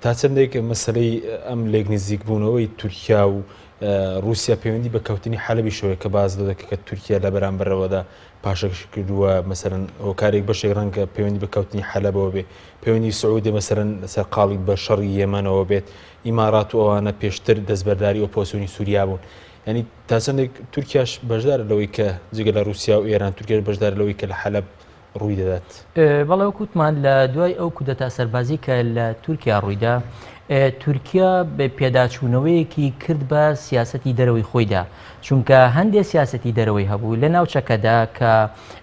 تا چەندێک مەسلەی ئەم لێک نزیک بوونەوەی تورکیا و رووسیا پەیوەندی بە کەوتنی حەلبی شەوەیە کە باز لە دەکە کە تورکیا لە بەرامبەرەوەدا پاشەکش کردووە مەسەرەن هۆکارێک بەشێک ڕەنگە پەیوەندی بە کەوتنی حەلەبەوە بێ پەیوەندی سعودێ مەسەرەن سەرقاڵی بە شەڕی یەمەنەوە بێت ئیمارات و ئەوانە پێشتر دەستبەرداری ئۆپۆسیۆنی سووریا بوون ینی تاسەندێک تورکیاش بەشدار لەوەی کە جگە لە رووسیا و ئێران تورکێش بەشدار لەوەی کە لە حەلب ڕووی دەدات. بەڵێ وەک وتمان لە دوای ئەو کودەتا سەربازی کە لە تورکیا ڕوویدا تورکیا پێداچوونەوەیەکی کرد بە سیاستی دەرەوەی خۆیدا چونکە هەندێ سیاستی دەرەوەی هەبوو لە ناوچەکەدا کە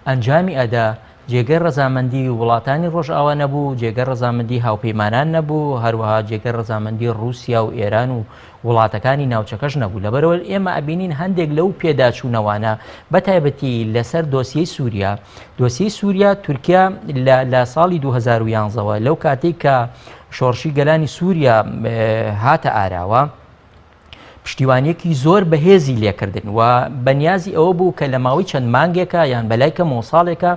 ئەنجامی ئەدا جێگەی ڕزامەندی وڵاتانی ڕۆژئاوا نەبوو جێگە ڕزامەندی هاوپەیمانان نەبوو هەروەها جێگە ڕزامەندی رووسیا و ئێران و وڵاتەکانی ناوچەکەش نەبوو، لەبەرئەوە ئێمە ئەبینین هەندێک لەو پێداچوونەوانە بەتایبەتی لەسەر دۆسیەی سووریا، دۆسیەی سووریا تورکیا لە ساڵی 2011 وە لەو کاتێک کە شۆڕشی گەلانی سووریا هاتە ئاراوە، پشتیوانیەکی زۆر بەهێزی لێکردن و بەنیازی ئەوە بوو کە لە ماوەی چەند مانگێکە یان بەلای کەمەوە ساڵێکە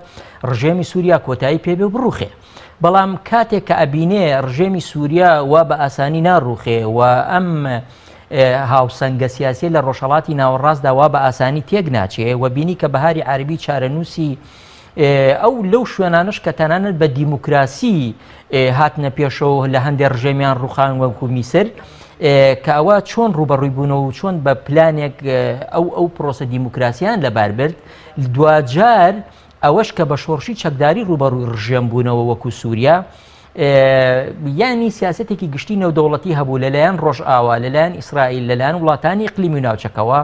ڕژێمی سووریا کۆتایی پێبێ و بڕوخێ. بەڵام کاتێک کە ئەبینێ ڕژێمی سووریا وا بە ئاسانی ناڕوخێ و ئەم هاوسەنگە سیاسی لە ڕۆژهڵاتی ناوەڕاستدا وا بە ئاسانی تێک ناچێ و بینی کە بەهاری عربی چارەنووسی ئەو لەو شوێنانش کە تەنانەت بە دیموکراسی هاتنە پێشەوە لە هەندێک ڕژێمیان ڕوخان وەکو میسر کە ئەوە چۆن ڕوبەڕووی بوونەوە و چۆن بە پلانێک ئەو ئەو پرۆسە دیموکراسیان لەبار برد دواجار ئەوەش کە بە شۆڕشی چەکداری ڕووبەڕووی ڕژێم بوونەوە وەکوو سووریا، یانی سیاسەتێکی گشتی نێودەوڵەتی هەبوو لە لایەن ڕۆژئاوا، لە لایەن ئیسرائیل، لە لایەن وڵاتانی ئیقلیمی و ناوچەکەوە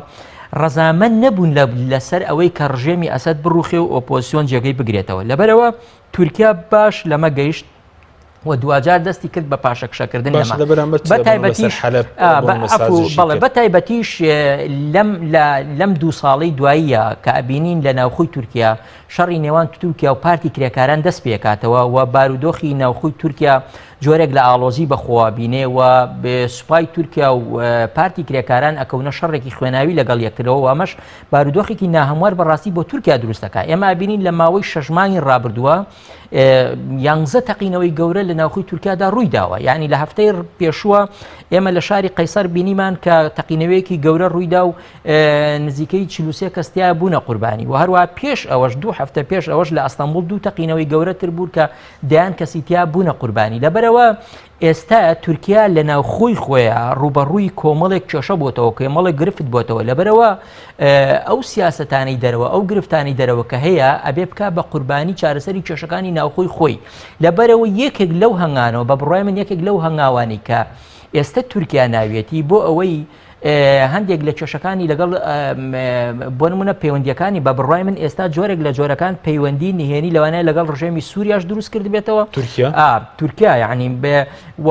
ڕەزامەند نەبوون لە سەر ئەوەی کە ڕژێمی ئەسەد بڕووخێ و ئۆپۆزسیۆن جێگەی بگرێتەوە. لەبەرئەوە تورکیا باش لەمە گەیشت، و دواجار دەستی کرد بە پاشەکشەکردن بەڵێ بە تایبەتیش لەم دوو ساڵی دواییە کە ئەبینین لە ناوخۆی تورکیا شەڕی نێوان تورکیا و پارتی کرێکاران دەست پێکاتەوە و بارودۆخی ناوخۆی تورکیا جۆرێک لە ئاڵۆزی بەخۆوە بینێ و سوپای تورکیا و پارتی کرێکاران ئەکەونە شەڕێکی خوێناوی لەگەڵ یەکرەوە ئەمەش بارودۆخێکی ناهموار بەڕاستی بۆ تورکیا دروستەکە ئێمە بینین لە ماوەی شەژمانی ڕابردووە یانزە تەقینەوەی گەورە لە ناوخی تورکیادا ڕووی داوە یعنی لە هەفتەی پێشووە ئێمە لە شاری قەیسەر بینیمان کە تەقینەوەیەکی گەورە ڕوویدا و نزیکەی چلوسێ کەستیا بوونە قوربانی و هەروە پێش ئەوەش دوو هەفتە پێش ئەوەش لە ئەستەمبول دوو تەقینەوەی گەورەتر بوو کە دەیان کەسیتیا بوونە قوربانی لەبەرەوە ئێستا تورکیا لە ناوخۆی خۆیا ڕووبەڕووی کۆمەڵێک کێشە بۆتەوە کێمەڵێک گرفت بۆتەوە لەبەرەوە ئەو سیاستانی دەرەوە ئەو گرفتانی دەرەوە کە هەیە ئەبێ بک بە قوربانی چارەسەری کێشەکانی ناوخۆی خۆی لەبەرەوە یەکێک لەو هەنگانەوە بە بڕای من یەکێک لەو هەنگاوانی کە ئێستا تورکیا ناویەتی بۆ ئەوەی هەندێک لە کێشەکانی لەگەڵ بۆ نمونە پەیوەندیەکانی بە بڕای من ئێستا جۆرێک لە جۆرەکان پەیوەندی نهێنی لەوانەیە لەگەڵ ڕژێمی سووریاش دروست کرد بێتەوە تورکیا تورکیا یعنی بێ و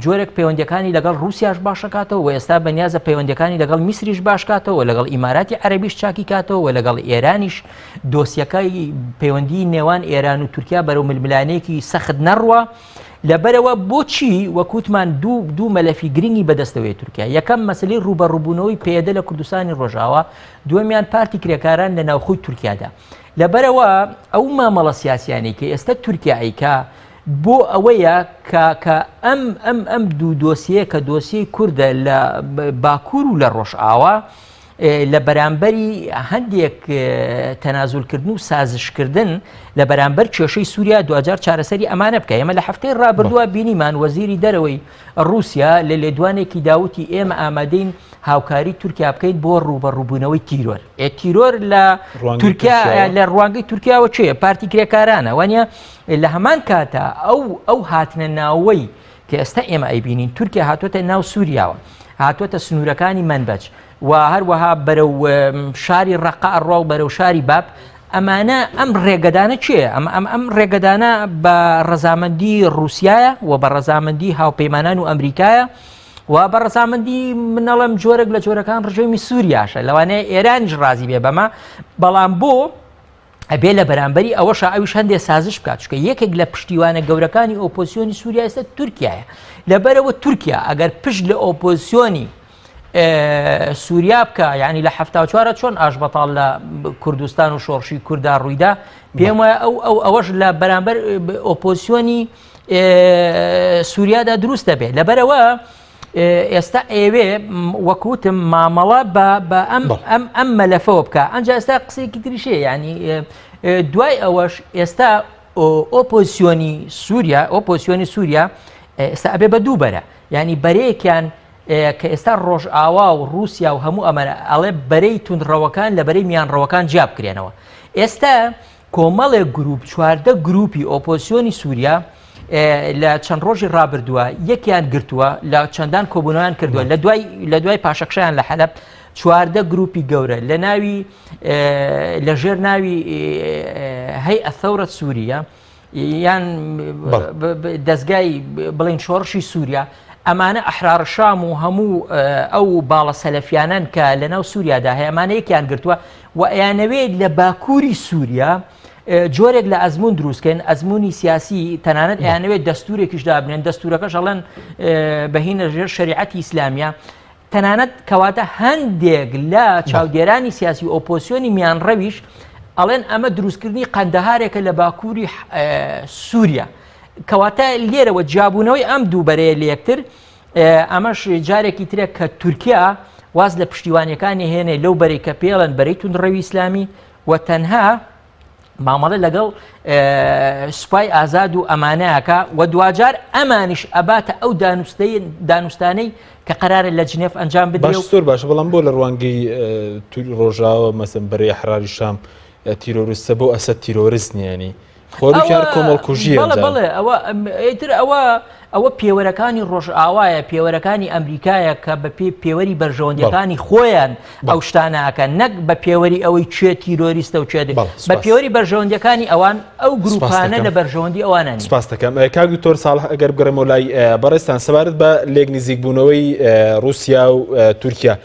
جۆرێک پەیوەندەکانی لەگەڵ رووسیاش باشەکاتەوە و ئێستا بەنیازە پەیوەندەکانی لەگەڵ میسریش باشکاتەوە لەگەڵ ئیماراتی عەربیش چاکی کاتەوە لەگەڵ ئێرانیش دۆسیەکەی پەیوەندی نێوان ئێران و تورکیا بەرەو ململانێکی سەخت نەڕوە. لەبەرئەوە بۆچی وەک وتمان دوو دوو مەلەفی گرنگی بەدەستەوەی تورکیا یەکەم مەسەلەی ڕووبەڕووبوونەوەی پەیەدە لە کوردستانی ڕۆژاوا دووەمیان پارتی کرێکاران لە ناوخۆی تورکیادا لەبەرەوە ئەو مامەڵە سیاسیانی کە ئێستا تورکیایکە بۆ ئەوەیە کاکە ئەم ئەم ئەم دوو دۆسیەیە کە دۆسیی کووردە لە باکوور و لە ڕۆژئاوا لە بەرامبەری هەندێک تەنازولکردن و سازشکردن لە بەرامبەر کێشەی سووریا دوجار چارەسەری ئەمانە بکە ئێمە لە هەفتەی ڕابردووە بینیمان وەزیری دەرەوەی ڕوسیا لە لێدوانێکی داوتی ئێمە ئامادەین هاوکاری تورکیا بکەیت بۆ ڕوبە ڕووبوونەوەی تیرۆر ئێ تیرۆر لە تورکیا لە ڕوانگەی تورکیاوە چێ پارتی کرێکارانە وانە لە هەمان کاتە ئەو ئەو هاتنە ناوەی کە ئێستا ئێمە ئەیبینین تورکیا هاتوۆتە ناو سووریاوە هاتوۆتە سنوورەکانی منبەج و هەروەها بەرەو شاری ڕقا ئەڕوا و بەرەو شاری باب ئەمانە ئەم ڕێگەدانە چێ ئەم ئەم ئەم ڕێگەدانە بە ڕەزامەندی رووسایە و بە ڕەزامەندی هاوپەیمانان و ئەمریکایە و بە ڕزامەندی منەڵم جۆرەك لە جۆرەکان ڕژێمی سووریاشە لەوانەیە ئێرانیش ڕازی بێ بەمە بەڵام بۆ ئەبێ لە بەرامبەری ئەوەشە ئەویش هەندێک سازش بکات چکە یەکێک لە پشتیوانە گەورەکانی ئۆپۆسیۆنی سووریا ئێستا تورکایە لەبەرەوە تورکیا ئەگەر پشت لە ئۆپۆسیۆنی سووریا بکە ینی لە هەفتا چوارە چۆن ئاش بەتاڵ لە کوردستان و شۆڕشی کووردا ڕوویدا پێم وایە ئەو ئەو ئەوەش لە بەرامبەر ئۆپۆسیۆنی سووریادا دروست دەبێت لەبەرەوە ئێستا ئێوێ وەکوتم مامەڵە بە بە ئەم ئەم ئەم مەلەفەوە بکە ئەنج ئێستا قسێکی تریشەیە ینی دوای ئەوەش ئێستا ئۆپۆزیسیۆنی سووریا ئۆپۆسیۆنی سووریا ئێستا ئەبێ بە دوو بەرە ینی بەرەیەکیان کە ئێستا ڕۆژئاوا و رووسیا و هەموو ئەمەرە ئەڵێ بەرەی تونندڕەوەکان لە بەرەی میانڕەوەکان جیاب کرێنەوە ئێستا کۆمەڵێک گرووپ چواردە گرووپی ئۆپۆسیۆنی سووریا لە چەند ڕۆژی ڕابردووە یەکیان گرتووە لە چەندان کۆبوونەوەیان کردووە لە دوای لە دوای پاشەکشیان لە حەلب چواردە گروپی گەورە لە ناوی لە ژێر ناوی هەی ئەثەورە سووریە یان دەستگای بڵین شۆڕشی سووریا ئەمانە ئەحرار شام و هەموو ئەو باڵە سەلەفیانەن کە لەناو سووریادا هەیەمانەیەکیان گرتووە و ئەیانەوێت لە باکووری سووریا جۆرێک لە ئەزمون دروستکەن ئەزمموی سیاسی تەنانەت ئەیانەوێت دەستورێکیش دابنێن دەستورەکەش ئەڵەن بەهینە ژێر شریعەتی ئیسلامیە تەنانەت کەواتە هەندێک لە چاودێرانی سیاسی ئۆپۆسیۆنی میان ڕەویش ئەڵێن ئەمە دروستکردنی قەندەهارێکە لە باکووری سووریا کەواتە لێرەوە جیابوونەوەی ئەم دووبەرەیە لە یەکتر ئەمەش جارێکی ترە کە تورکیا واز لە پشتیوانیەکانی هێنێ لەو بەری کە پێڵەن بەری توندڕەوی ئیسلامی و تەنها مامەڵە لەگەڵ سوپای ئازاد و ئەمانەکە و دواجار ئەمانیش ئەباتە ئەو دانوستەی دانوستانەی کە قرارە لە جنێف ئەنجام بدە زۆر باش بەڵام بۆ لە ڕوانگەی ڕۆژاوە مەسم بەرەی حراری شام تیرۆرستە بۆ ئەسە تیرۆرست نیانی بەڵێ ئەوە ئەیتر ئەوە ئەوە پێوەرەکانی ڕۆژئاوایە پێوەرەکانی ئەمریکایە کە بە پێی پێوەری بەرژەوەندەکانی خۆیان ئەو شتانەکە نەک بە پێوەری ئەوەی کوێ تیرۆریستە و کوێ بە پێوەری بەرژەوەندەکانی ئەوان ئەو گروپانە لە بەرژەوەندی ئەوانە سپاستەکەم کاک دکتۆر ساڵح ئەگەر بگەڕێمەوە لای بەڕێستان سەبارەت بە لێک نزیکبوونەوەی رووسیا و تورکیا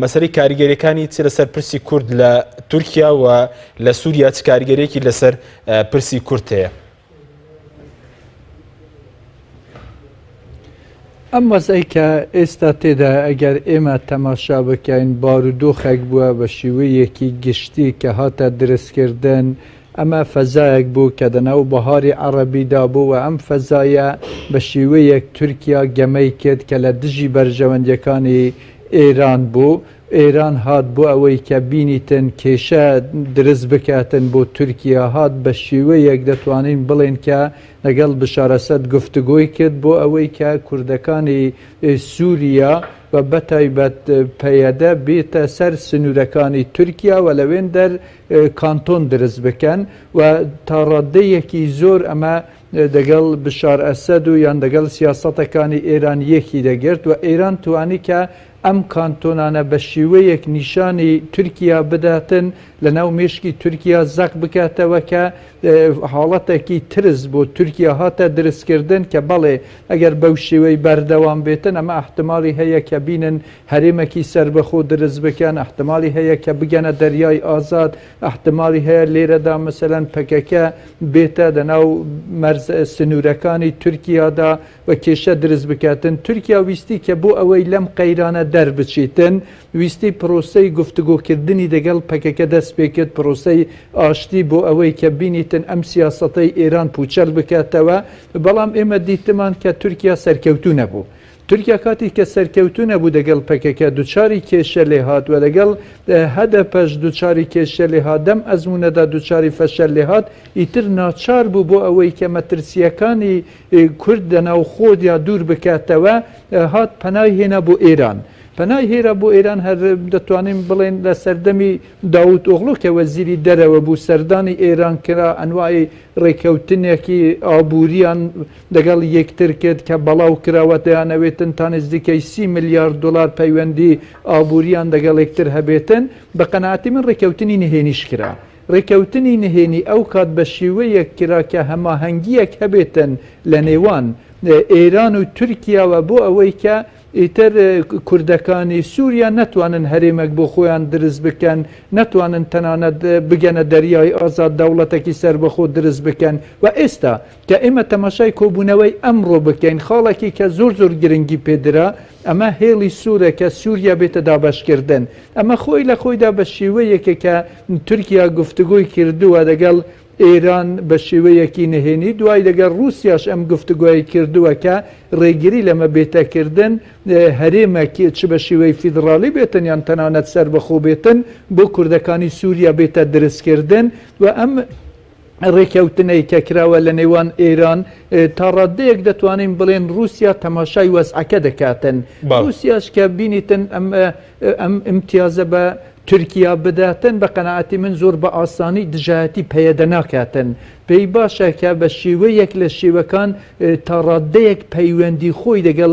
مەسەلەی کاریگەریەکانی چ لەسەر پرسی کورد لە تورکیا و لە سووریا چ کاریگەرێکی لەسەر پرسی کورت هەیە ئەم وەزەی کە ئێستا تێدا ئەگەر ئێمە تەماشا بکەین بارودۆخێک بووە بە شیوەیەکی گشتی کە هاتە درستکردن ئەمە فەزایەک بوو کە دە ناو بەهاری عەڕەبی دا بوو و ئەم فەزایە بە شیوەیەک تورکیا گەمەی کرد کە لە دژی بەرژەوەندیەکانی ئێران بوو. ئێران هات بۆ ئەوەی کە بینیتن کێشە درست بکاتن بۆ تورکیا هات بە شیوەیەک دەتوانین بڵێن کە لەگەڵ بشار ئەسەد گفتگۆی کرد بۆ ئەوەی کە کوردەکانی سوریا و بە تایبەت پەیەدە بێتە سەر سنورەکانی تورکیا و لەوێندەر کانتۆن دروست بکەن و تا ڕاددەیەکی زۆر ئەمە دەگەڵ بشار ئەسەد و یان دەگەڵ سیاسەتەکانی ئێران یەکی دەگرت و ئێران توانی کە ئەم کانتۆنانە بە شیوەیەک نیشانی تورکیا بداتن لە ناو مێشکی تورکیا زەق بکاتەوە کە حاڵەتێکی ترس بۆ تورکیا هاتە درستکردن کە بەڵێ ئەگەر بەو شێوەی بەردەوام بێتن ئەمە احتمالی هەیە کە بینن هەرێمەکی سەربەخۆ درزبکەن ئەحتمالی هەیە کە بگەنە دەریای ئازاد ئەحتمالی هەیە لێرەدا مەسەلەن پەکەکە بێتە دەناو مەرز سنورەکانی تورکیادا و کێشە درز بکاتن تورکیا ویستی کە بۆ ئەوەی لەم قەیرانە دەربچیتن ویستی پرۆسەی گفتگۆکردنی دەگەڵ پەکەکە دەست پێکرد پرۆسەی ئاشتی بۆ ئەوەی کە بینیتن ئەم سیاسەتەی ئێران پوچەل بکاتەوە بەڵام ئێمە دیتمان کە تورکیا سەرکەوتو نەبوو تورکیا کاتێک کە سەرکەوتوو نەبوو دەگەڵ پەکەکە دوچاری کێشە لێهات و لەگەڵ هەدەپەش دوچاری کێشە لێهات، لەم ئەزموونەدا دوچاری فەشەل لێهات، ئیتر ناچار بوو بۆ ئەوەی کە مەترسییەکانی کورد لە ناوخۆدیا دوور بکاتەوە هات پەنای هێنا بۆ ئێران. پەنای هێرا بۆ ئێران هەر دەتوانین بڵێین لە سەردەمی داوود ئۆغلۆ کە وەزیری دەرەوە بوو سەردانی ئێران کرا، ئەنواعی ڕێککەوتنێکی ئابوورییان، لەگەڵ یەکتر کرد کە بەڵاو کراوە دەیانەوێتن تا نزیکەی سی ملیار دۆلار پەیوەندی ئابوورییان لەگەڵ یەکتر هەبێتن، بە قەناعەتی من ڕێککەوتنی نهێنیش کرا. ڕێککەوتنی نهێنی ئەو کات بە شێوەیەک کرا کە هەماهەنگییەک هەبێتن لە نێوان ئێران و تورکیاوە بۆ ئەوەی کە ئیتر کوردەکانی سووریا نەتوانن هەرێمەک بۆ خۆیان دروست بکەن، نەتوانن تەنانەت بگەنە دەریای ئازاد دەوڵەتێکی سەربەخۆ دروست بکەن و ئێستا کە ئێمە تەماشای کۆبوونەوەی ئەمڕۆ بکەین، خاڵێکی کە زۆر زۆر گرنگی پێ درا، ئەمە هێڵی سوورە کە سووریا بێتە دابەشکردن. ئەمە خۆی لە خۆیدا بە شێوەیەکە کە تورکیا گفتوگۆی کردووە لەگەڵ ئێران بە شێوەیەکی نهێنی، دوای لەگەڵ ڕووسیاش ئەم گفتوگۆیەی کردووە کە ڕێگری لەمە بێتە کردن هەرێمێک چ بە شێوەی فیدڕاڵی بێتن یان تەنانەت سەربەخۆ بێتن بۆ کوردەکانی سووریا بێتە درزکردن و ئەم ڕێککەوتنەی کە کراوە لە نێوان ئێران تا ڕاددەیەک دەتوانین بڵێن ڕووسیا تەماشای وەزعەکە دەکاتن ڕووسیاش کە بینیتن ئەم ئەم ئیمتیازە بە تورکیا بداتن بە قەنەعەتی من زۆر بە ئاسانی دژایەتی پەیەدە ناکاتن پێی باشە کە بە شێوەیەک لە شێوەکان تا ڕاددەیەک پەیوەندی خۆی دەگەڵ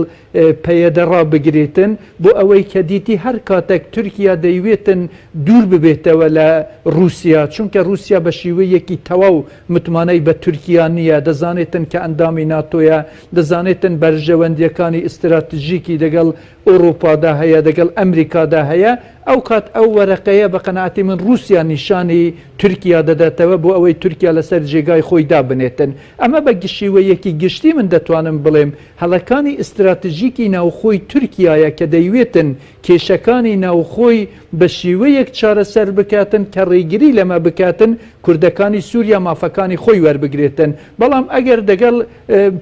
پەیەدە ڕابگرێتن، بۆ ئەوەی کە دیتی هەر کاتەک تورکیا دەیوێتن دوور ببێتەوە لە ڕووسیا، چونکە ڕووسیا بە شیوەیەکی تەواو متمانەی بە تورکیا نییە، دەزانێتن کە ئەندامی ناتۆیە، دەزانێتن بەرژەوەندییەکانی ئیستراتژیکی دەگەڵ ئۆڕووپادا هەیە، دەگەڵ ئەمریکادا هەیە، ئەو کات ئەو وەرەقەیە بە قەناعەتی من ڕووسیا نیشانی تورکیا دەداتەوە بۆ ئەوەی تورکیا لەسەر جێگای خۆی دابنێتن. ئەمە بە شیوەیەکی گشتی من دەتوانم بڵێم. هەڵەکانی ئیستراتژیکی ناوخۆی تورکیایە کە دەیوێتن کێشەکانی ناوخۆی بە شیوەیەک چارەسەر بکاتن کە ڕێگری لەمە بکاتن کوردەکانی سوریا مافەکانی خۆی وەربگرێتن بەڵام ئەگەر دەگەڵ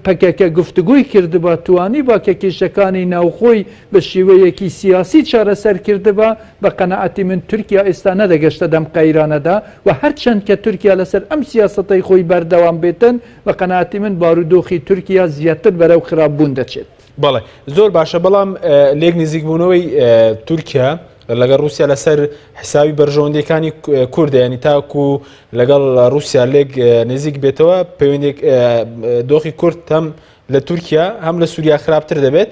پەکەکە گفتگۆی کردبا توانیبا کە کێشەکانی ناوخۆی بە شیوەیەکی سیاسی چارەسەر کردبا بە قەناعەتی من تورکیا ئێستا نەدەگەشتە دەم قەیرانەدا و هەرچەند کە تورکیا لەسەر ئەم سیاسەتەی خۆی بەردەوام بێتن بە قەناعەتی من بارودۆخی تورکیا زیاتر بەرەو خراپ بوون دەچێت. بەڵێ زۆر باشە بەڵام لێک نزیکبوونەوەی تورکیا لەگەڵ رووسیا لەسەر حساوی بەرژەوەندەکانی کوردە ینی تاکو لەگەڵ رووسیا لێک نزیک بێتەوە پەیوەندێک دۆخی کورد هەم لە تورکیا هەم لە سووریا خراپتر دەبێت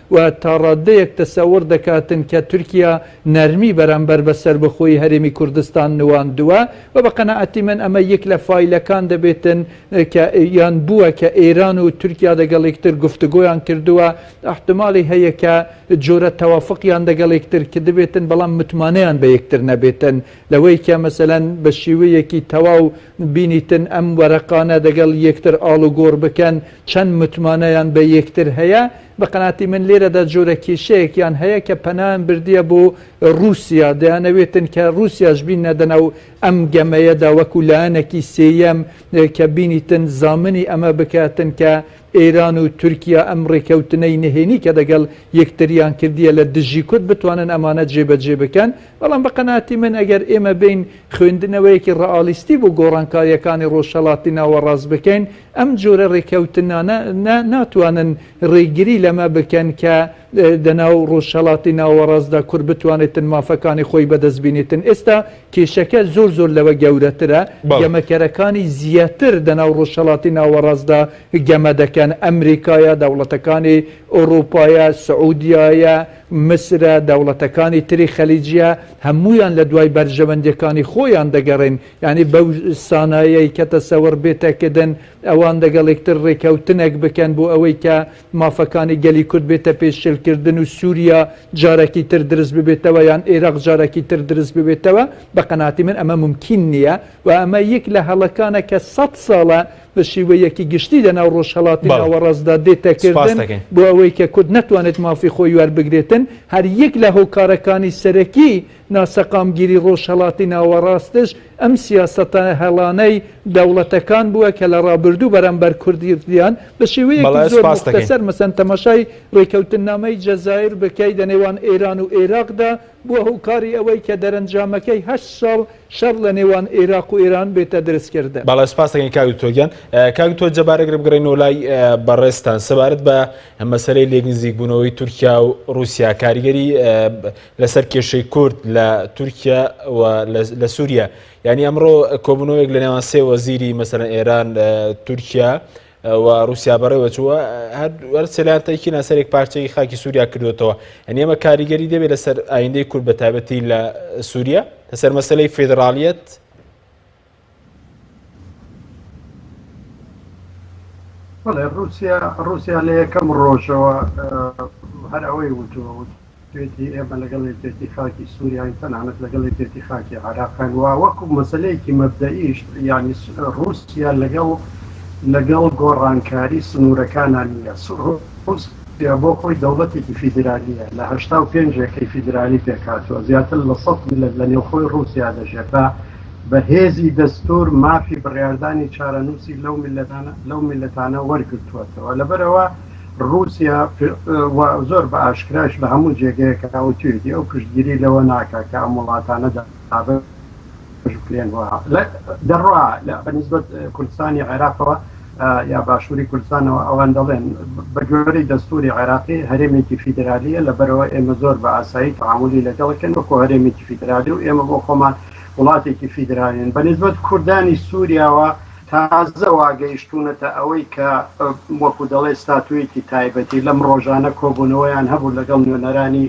و تا ڕاددەیەک تەسەور دەکاتن کە تورکیا نەرمی بەرامبەر بە سەربەخۆیی هەرێمی کوردستان نواندووە و بە قەناعەتی من ئەمە یەک لە فایلەکان دەبێتن کە یان بووە کە ئێران و تورکیا دەگەڵ یەکتر گفتوگۆیان کردووە ئەحتماڵی هەیە کە جۆرە تەوافقیان دەگەڵ یەکتر کردبێتن بەڵام متمانەیان بە یەکتر نەبێتن لەوەی کە مەسەلەن بە شیوەیەکی تەواو بینیتن ئەم وەرەقانە دەگەڵ یەکتر ئاڵوگۆڕ بکەن چەند متمانەیان بە یەکتر هەیە بە قەناعەتی من لێرەدا جۆرە کێشەیەکیان هەیە کە پەنایان بردیە بۆ ڕووسیا، دەیانەوێتن کە ڕووسیاش بیننەدە ناو ئەم گەمەیەدا وەکوو لایەنێکی سێیەم کە بینیتن زامنی ئەمە بکاتن کە ئێران و تورکیا ئەم ڕێکەوتنەی نهێنی کە دەگەڵ یەکتریان کردیە لە دژی کورد بتوانن ئەمانە جێبەجێ بکەن. بەڵام بە قەناعەتی من ئەگەر ئێمە بێین خوێندنەوەیەکی ڕەئالیستی بۆ گۆڕانکارییەکانی ڕۆژهەڵاتی ناوەڕاست بکەین، ئەم جۆرە ڕێککەوتنانە ناتوانن ڕێگری لەمە بکەن کە دە ناو ڕۆژهەڵاتی ناوەڕاستدا کورد بتوانێتن مافەکانی خۆی بەدەست بینێتن ئێستا کێشەکە زۆر زۆر لەوە گەورەترە گەمەکەرەکانی زیاتر دە ناو ڕۆژهەڵاتی ناوەڕاستدا گەمە دەکەن ئەمریکایە دەوڵەتەکانی ئۆرۆپایە سعودیایە مسرە دەوڵەتەکانی تری خەلیجیە هەموویان لە دوای بەرژەوەندیەکانی خۆیان دەگەڕێن یانی بەو سانایەی کە تەسەوڕ بێتە کردن ئەوان لەگەڵ یەکتر ڕێکەوتنێک بکەن بۆ ئەوەی کە مافەکانی گەلی کورد بێتە پێش شل کردن و سوریا جارەکی تر دروست ببێتەوە یان ئێراق جارەکی تر دروست ببێتەوە بە قەناعەتی من ئەمە مومکین نییە و ئەمە یەک لە هەڵەکانە کە سەد ساڵە بە شیوەیەکی گشتی لە ناو ڕۆژهەڵاتی بەڵێ ناوەڕاستدا دێتە سوپاس کردن دەکەین. بۆ ئەوەی کە کورد نەتوانێت مافی خۆی وەربگرێتن هەر یەک لە هۆکارەکانی سەرەکی ناسەقامگیری ڕۆژهەڵاتی ناوەڕاستش ئەم سیاسەتە هەڵانەی دەوڵەتەکان بووە کە لە ڕابردوو بەرامبەر کوردیان بە شێوەیەکی زۆر موختەسەر مەسەن تەماشای ڕێکەوتننامەی جەزایر بکەی لە نێوان ئێران و ئێراقدا بووە هۆکاری ئەوەی کە دەرەنجامەکەی هەشت ساڵ شەڕ لە نێوان ئێراق و ئێران بێتە دروستکردن. بەڵێ سپاستەکەین کاک دکتۆر گیان کاک دکتۆر جەبار ئەگەر بگەڕێینەوە لای بەڕێزتان سەبارەت بە مەسەلەی لێکنزیکبوونەوەی تورکیا و ڕووسیا کاریگەری لەسەر کێشەی کورد لە تورکیا و لە سووریا یعنی ئەمڕۆ کۆبوونەوەیەک لە نێوان سێ وەزیری مەسەر ئێران تورکیا و رووسیا بەڕێوە چووە هەر سەلیان تەکی ناسەرێک پارچەی خاکی سووریا کردوێتەوە ئەنی ئەمە کاریگەری دەبێت لەسەر ئایندەی کورد بە تابەتی لە سووریا لەسەر مەسلەی فیدراالیت بەڵێ ڕوسیا ڕوسیا لە یەکەم ڕۆژەوە هەر ئەوەی وتوە وت توێتی ئێمە لەگەڵ یەکێتی خاکی سووریاین تەنانەت لەگەڵ یەکێتی خاکی عراقان و وەکو مەسلەیەکی مەبدەئیشت ینی ڕوسیا لەگەڵ لەگەڵ گۆڕانکاری سنوورەکانان نیە ڕوسیا بۆ خۆی دەوڵەتێکی فیدرالیە لە هەشتا و پێنج یەکەی فیدرالی پێکاتوە زیاتر لە سەد میلەت لە نێوخۆی ڕوسیا دەژێت بە بە هێزی دەستوور مافی بڕیاردانی چارەنووسی لەو میللەتانە وەرگرتووەتەوە. لەبەرئەوە ڕووسیا و زۆر بە ئاشکرایش لە هەموو جێگەیەکا وتوویەتی ئەو پشتگیری لەوە ناکا کە ئەم وڵاتانە دابەش بکرێن و دەڕوا بە نیسبەت کوردستانی عێراقەوە یا باشوری کوردستانەوە ئەوان دەڵێن بە گوێرەی دەستوری عێراقی هەرێمێکی فیدرالیە لە بەرەوە ئێمە زۆر بە ئاسایی تەعاملی لەگەڵەکەن وەکۆ هەرێمێکی فیدرالی و ئێمە بۆ خۆمان وڵاتێکی فیدرالین بە نسبەت کوردانی سووریاوە تازە واگەیشتونەتە ئەوەی کە وەکو دەڵێ ستاتویەکی تایبەتی لەم ڕۆژانە کۆبوونەوەیان هەبوو لەگەڵ نوێنەرانی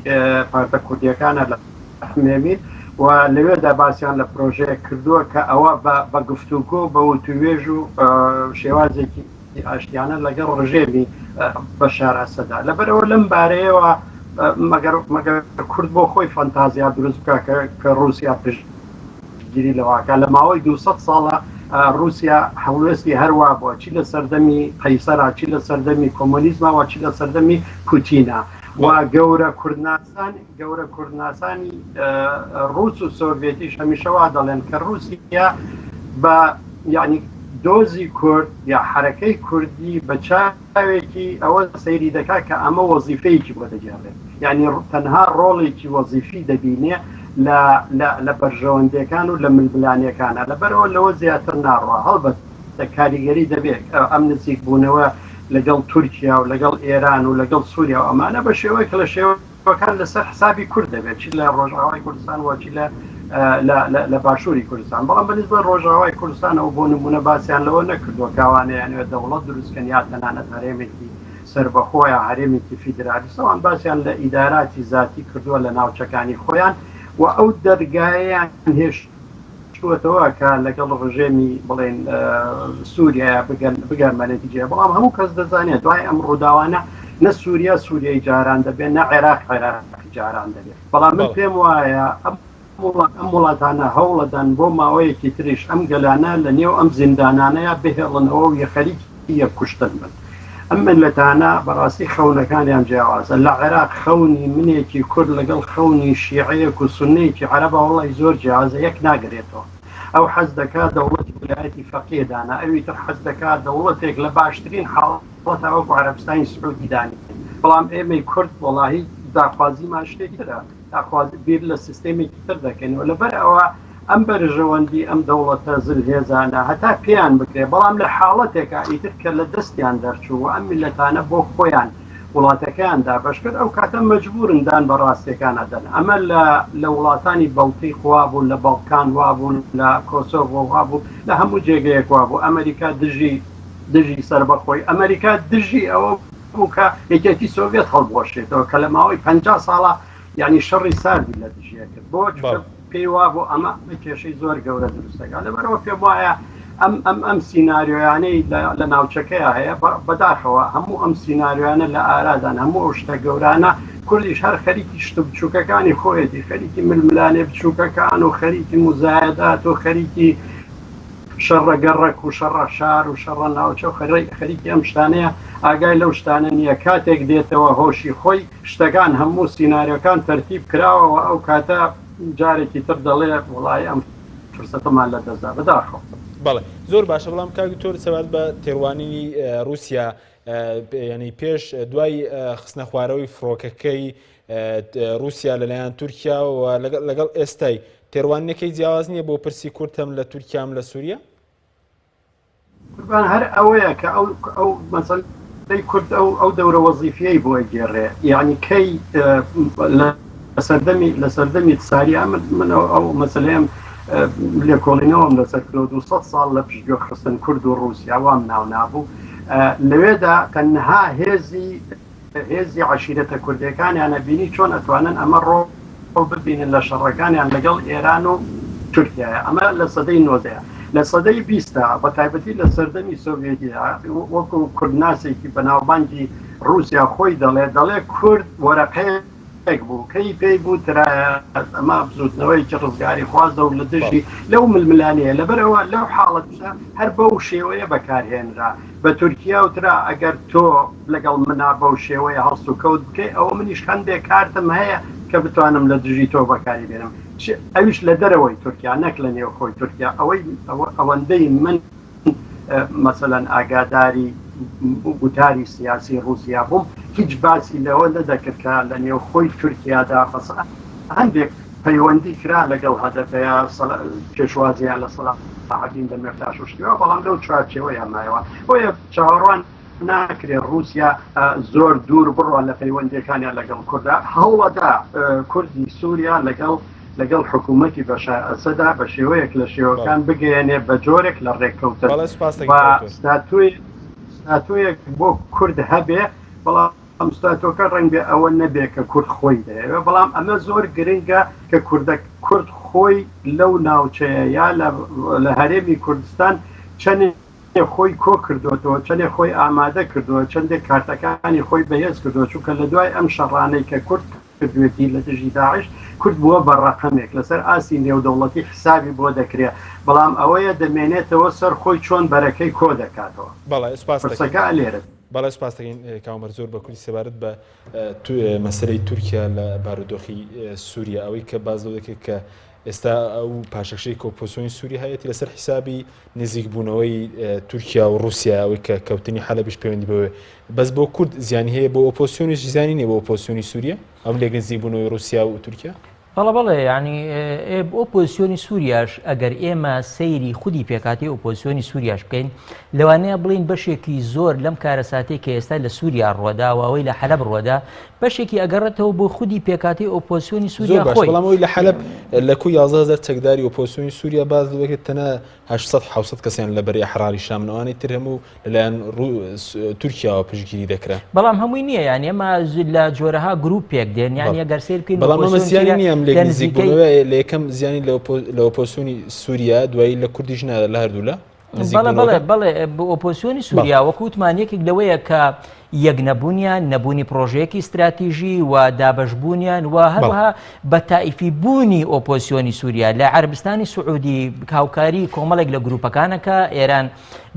پارتە کوردیەکانە لە ئەحمەوی و لەوێدا باسیان لە پرۆژەیەک کردووە کە ئەوە بە گفتوگۆ بە وتووێژ و شێوازێکی ئاشتیانە لەگەڵ ڕژێمی بەشار ئەسەدا لەبەرەوە لەم بارەیەوە مەگەر کورد بۆ خۆی فەنتازیا دروست بکە کە رووسیا پشت گیری لەواکە لە ماوەی 200 ساڵە رووسیا هەڵوێستی هەروە بووە چی لە سەردەمی قەیسەرا چی لە سەردەمی کۆمۆنیزمەوە چی لە سەردەمی پوتینە و گەورە کوردنا یەکسان گەورە کوردناسانی ڕووس و سۆڤێتیش هەمیشە وا دەڵێن کە ڕووسیا بە یعنی دۆزی کورد یا حرەکەی کوردی بە چاوێکی ئەوە سەیری دەکات کە ئەمە وەزیفەیەکی بۆ دەگەڕێت یعنی تەنها ڕۆڵێکی وەزیفی دەبینێ لە بەرژەوەندەکان و لە ململانەکانە لەبەرەوە لەوە زیاتر ناڕوە هەڵبەت کاریگەری دەبێت ئەم نزیک بوونەوە لەگەڵ تورکیا و لەگەڵ ئێران و لەگەڵ سووریا و ئەمانە بە شێوەیە کە لە شێوەکان لەسەر حسابی کورد دەبێت چی لە ڕۆژاوای کوردستان وچی لە لە باشووری کوردستان بەڵام بە نسبە ڕۆژاوای کوردستانەوە بۆ نمونە باسییان لەوە نەکردووە کاوانەیانەوە دەوڵەت دروستکەن یا تەنانەت هەرێمێکی سربەخۆیە هەرێمێکی فیدرالیسەوان باسییان لە ئیداراتی زیاتی کردووە لە ناوچەکانی خۆیان و ئەو دەرگایان هێشت چووەتەوە کە لەگەڵ ڕژێمی بڵێن سووریایە بگەن بە نەتیجەیە بەڵام هەموو کەس دەزانێت دوای ئەم ڕووداوانە نە سووریا سووریای جاران دەبێت نە عێراق عێراق جاران دەبێت بەڵام من پێم وایە ئەم ئەم وڵاتانە هەوڵەدان بۆ ماوەیەکی تریش ئەم گەلانە لە نێو ئەم زیندانانەیە بهێڵنەوە و یە خەریکی یەک کوشتن بن ئەم میللەتانە بەڕاستی خەونەکانیان جیاوازە لە عێراق خەونی منێکی کورد لەگەڵ خەونی شیعەیەک و سونەیەکی عەرەبە وەڵای زۆر جیاوازە یەک ناگرێتەوە ئەو حەز دەکا دەوڵەتی ولایەتی فەقیە دانا ئەوی تر حەز دەکا دەوڵەتێک لە باشترین حاڵەت وەتا وەکو عەرەبستانی سعودی دانێ بەڵام ئێمەی کورد وەڵاهی داخوازیمان شتێکی ترە داخوازی بیر لە سیستێمێکی تر دەکەین و لەبەر ئەوە ئەم بەرژەوەندی ئەم دەوڵەتە زلهێزانە هەتا پێیان بکرێ بەڵام لە حاڵەتێکا ئیتر کە لە دەستیان دەرچوو و ئەم میللەتانە بۆ خۆیان وڵاتەکەیان دابەش کرد ئەو کاتە مەجبوورن دان بە ڕاستیەکان ئەدەن ئەمە لە لە وڵاتانی بەڵتیق وابوو لە بەڵکان وابوو لە کۆسۆڤۆ وابوو لە هەموو جێگەیەک وابوو ئەمەریکا دژی دژی سربەخۆی ئەمەریکا دژی ئەوە بوو کە یەکێتی سۆڤێت هەڵبوەشێتەوە کە لە ماوەی پەنجا ساڵە یعنی شەڕی ساردی لە دژیە کرد بۆ پێی وابوو ئەمە کێشەی زۆر گەورە دروستەکە لەبەرەوە پێم وایە ئەم ئەم ئەم سینناریۆیانەی لە ناوچەکەی هەیە بەداخەوە هەموو ئەم سینناریۆیانە لە ئارادان هەموو ئەو شتە گەورانە کوردیش هەر خەریکی شتە بچووکەکانی خۆیەتی خەریکی ململانێ بچووکەکان و خەریکی مزایەدات و خەریکی شەڕە گەڕەک و شەڕە شار و شەڕە ناوچە و خەرەی خەریکی ئەم شتانەیە ئاگای لەو شتانە نییە کاتێک دێتەوە هۆشی خۆی شتەکان هەموو سیناریۆکان تەرتیب کراوەوە ئەو کاتە جارێکی تر دەڵێ وەڵای ئەم فرسەتەمان لە دەست دا بەداخەوە. بەڵێ زۆر باشە بەڵام کاک دکتۆر سەبارەت بە تێڕوانینی ڕووسیا یانی پێش دوای خستنە خوارەوەی فڕۆکەکەی ڕووسیا لەلایەن تورکیاەوە لەگەڵ ئێستای تێڕوانینەکەی جیاواز نییە بۆ پرسی کورتم لە تورکیام لە سووریە قوربان هەر ئەوەیە کە ئەو ئەو مەسەل دەی کورد ئەو ئەو دەورە وەزیفیەی بۆی گێڕێ یعنی کەی لە سەردەمی لە سەردەمی ساری ئەمن من ئەو مەسلەیەم لێکۆڵینەوەم لەسەر کرۆ 200 ساڵ لە پشتگوێ خستن کورد و ڕوسیاوام ناو نابوو لەوێدا تەنها هێزی هێزی عەشیرەتە کوردیەکانیانە بینی چۆن ئەتوانن ئەمە ڕۆڵ ببینن لە شەڕەکانیان لەگەڵ ئێران و تورکیایە ئەمە لە سەدەی نۆزدەیە لە سەدەی بیستە بە تایبەتی لە سەردەمی سۆڤێتیا وەکو کوردناسێکی بەناوبانگی ڕوسیا خۆی دەڵێ دەڵێ کورد وەرەقەیە یەک بوو کەی پێی بوو ترایە ئەمە بزوتنەوەیەکی ڕزگاریخوازە و لە دژی لەو ململانەیە لەبەرەوە لەو حاڵەتە هەر بەو شێوەیە بەکارهێنرا بە تورکیا و ترا ئەگەر تۆ لەگەڵ منا بەو شێوەیە هەڵس و کەوت بکەی ئەوە منیش هەندێک کارتم هەیە کە بتوانم لە دژی تۆ بەکاری بێنم ئەویش لە دەرەوەی تورکیا نەک لە نێوخۆی تورکیا ئەوەی ئەوەندەی من مەسەلەن ئاگاداری گوتاری سیاسی ڕووسیا بووم، هیچ باسی لەوە نەدەکرد کە لە نێوخۆی تورکیادا هەندێک پەیوەندی کرا لەگەڵ هەدەپەیا، پێشوازیان لە سەلاحەدین دەمیرتاش و شتیوە، بەڵام لەو چوارچێوەیە مایەوە. بۆیە چاوەڕوان. ناکرێت ڕووسیا زۆر دوور بڕۆن لە پەیوەندیەکانیان لەگەڵ کوردا هەوڵەدا کوردی سووریا لەگەڵ لەگەڵ حکوومەتتی بەشار ئەسەدا بە شێوەیەک لە شێوەکان بگەیەنێ بە جۆرێک لە ڕێککەوتن ستاتۆیەک بۆ کورد هەبێ بەڵام ئەم ستاتۆکە ڕەنگە ئەوە نەبێ کە کورد خۆی دەیەوێ بەڵام ئەمە زۆر گرنگە کە کوردە کورد خۆی لەو ناوچەیە یا لە هەرێمی کوردستان چەند چەندێ خۆی کۆ کردۆتەوە، چەندێ خۆی ئامادە کردوە، چەندێ کارتەکانی خۆی بەهێز کردوە، چونکە لە دوای ئەم شەڕانەی کە کورد کردوێتی لە دژی داعش، کورد بوە بە ڕەقەمێک، لەسەر ئاستی نێودەوڵەتی حیسابی بۆ دەکرێ، بەڵام ئەوەیە دەمێنێتەوە سەر خۆی چۆن بەرەکەی کۆ دەکاتەوە. بەڵێ سپاست دەکەین. پرسەکە لێرەدا. بەڵێ سپاست دەکەین کاوە مەرد زۆر بە کورتی سەبارەت بە مەسەلەی تورکیا لە بارودۆخی سوریا ئەوەی کە باس لەوە دەکرێت کە ئێستا ئەو پاشەکشەی کە ئۆپۆزسیۆنی سوری هەیەتی لەسەر حیسابی نزیک بوونەوەی تورکیا و رووسیا ئەوەی کە کەوتنی حەلەبیش پەیوەندی بەوێ بەس بۆ کورد زیانی هەیە بۆ ئۆپۆسیۆنیش زیانی نیە بۆ ئۆپۆسیۆنی سووریە ئەم لێک نزیک بوونەوەی رووسیا و تورکیا بەڵە بەڵێ ینی ئۆپۆسیۆنی سووریاش ئەگەر ئێمە سەیری خودی پێکاتی ئۆپۆسیۆنی سووریاش بکەین لەوانەیە بڵین بەشێکی زۆر لەم کارە ساتێک کە ئێستا لە سووریا ڕوەداوە ئەوەی لە حەلب ڕوەدا بەشێکی ئەگەڕێتەوە بۆ خودی پێکهاتەی ئۆپۆزسیۆنی زۆر سووریا باش خۆی. بەڵام ئەوەی لە حەلەب لە کوی یازدە هەزار چەکداری ئۆپۆزسیۆنی سووریا باس لەوە کرد تەنها هەشت سەد حەوت سەد کەسیان لە بەرەی ئەحراری شامن ئەوانەی تر هەموو لەلایەن ڕوو تورکیاوە پشتگیری دەکران بەڵام هەمووی نییە یان ئێمە ز- لە جۆرەها گروپ پێک دێن یان بەڵێ. ئەگەر سیر بکەین بەڵام ئەمە ئۆپۆزسیۆن زیانی تیرە نییە ئەم لێک لە بەڵێ بەڵێ بەڵێ ئۆپۆسیۆنی سووریا وەکو وتمان یەکێک لەوەیە کە یەک نەبوونیان نەبوونی پرۆژەیەکی استراتیژی و دابەشبوونیان و هەروەها بە تایفی بوونی ئۆپۆسیۆنی سووریا لە عربستانی سعودی هاوکاری کۆمەڵێک لە گروپەکانەکە ئێران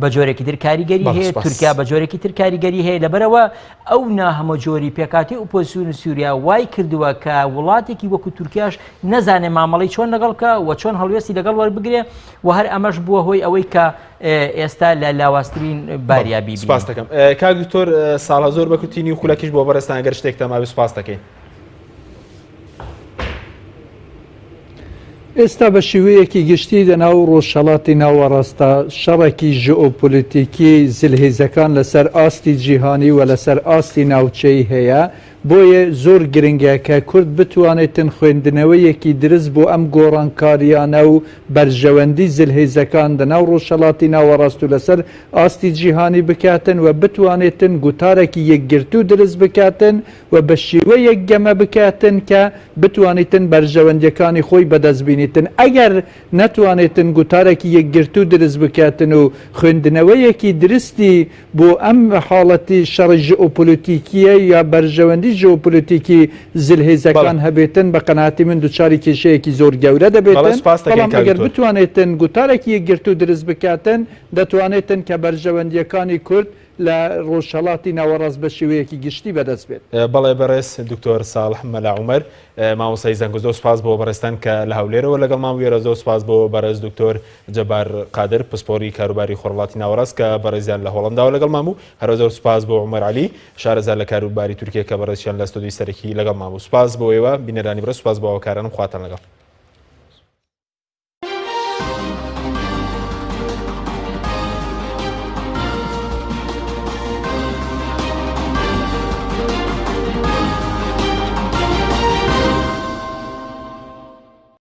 بە جۆرێکی تر کاریگەری هەیە تورکیا بە جۆرێکی تر کاریگەری هەیە لەبەرەوە ئەو ناهەمە جۆری پێکاتی ئۆپۆسیون و سووریا وای کردووە کە وڵاتێکی وەکو تورکیاش نەزانێ مامەڵی چۆن لەگەڵکە و چۆن هەڵوێستی لەگەڵ وەربگرێ وە هەر ئەمەش بووە هۆی ئەوەی کە ئێستا لە لاوازترین باریا بیبینین. سپاس دەکەم. کاک دکتۆر ساڵە زۆر بە کورتی نیو خولەکیش بۆ بەڕێزتان گەر شتێکتان مابێ سپاس دەکەین. ئێستا بە شێوەیەکی گشتی لەناو ڕۆژهەڵاتی ناوەڕاستدا شەڕێکی ژئۆپۆلیتیکی زلهێزەکان لەسەر ئاستی جیهانی و لەسەر ئاستی ناوچەیی هەیە، بۆیە زۆر گرنگە کە کورد بتوانێتن خوێندنەوەیەکی درست بۆ ئەم گۆڕانکارییانە و بەرژەوەندی زلهێزەکان لە ناو ڕۆژهەڵاتی ناوەڕاست و لەسەر ئاستی جیهانی بکاتن و بتوانێتن گوتارەکی یەکگرتوو درست بکاتن و بە شێوەیەک گەمە بکاتن کە بتوانیتن بەرژەوەندییەکانی خۆی بەدەست بینیتن ئەگەر نەتوانێتن گوتارەکی یەکگرتوو درست بکاتن و خوێندنەوەیەکی درستی بۆ ئەم حاڵەتی شەڕی ژئۆپۆلۆتیکییە یا بەرژەوەندی ژئۆپۆلۆتیکی زلهێزەکان بەڵێ. هەبێتن، بە قەناعەتی من دوچاری کێشەیەکی زۆر گەورە بەڵێ دەبێتن، سوپاستەکەین بەڵام کاک ئەگەر دکتۆر. بتوانێتن گوتارێکی یەکگرتوو دروست بکاتن، دەتوانێتن کە بەرژەوەندییەکانی کورد لە ڕۆژهەڵاتی ناوەڕاست بە شێوەیەکی گشتی بەدەست بێت. بەڵێ بەڕێز دکتۆر ساڵح مەلا عومەر مامۆستای زانکۆ زۆر سوپاس بۆ بەڕێزتان کە لە هەولێرەوە لەگەڵمان بووی، زۆر سوپاس بۆ بەڕێز دکتۆر جەبار قادر پسپۆڕی کاروباری خۆرهەڵاتی ناوەڕاست کە بەڕێزیان لە هۆڵەنداوە لەگەڵمان بوو، هەرە زۆر سوپاس بۆ عومەر عەلی شارەزا لە کاروباری تورکیە کە بەڕێزشیان لە ستۆدیۆی سەرەکی لەگەڵمان بوو. سوپاس بۆ ئێوە بینەرانی بەڕێز سوپاس بۆ هاوکارانم خواتان لەگەڵ.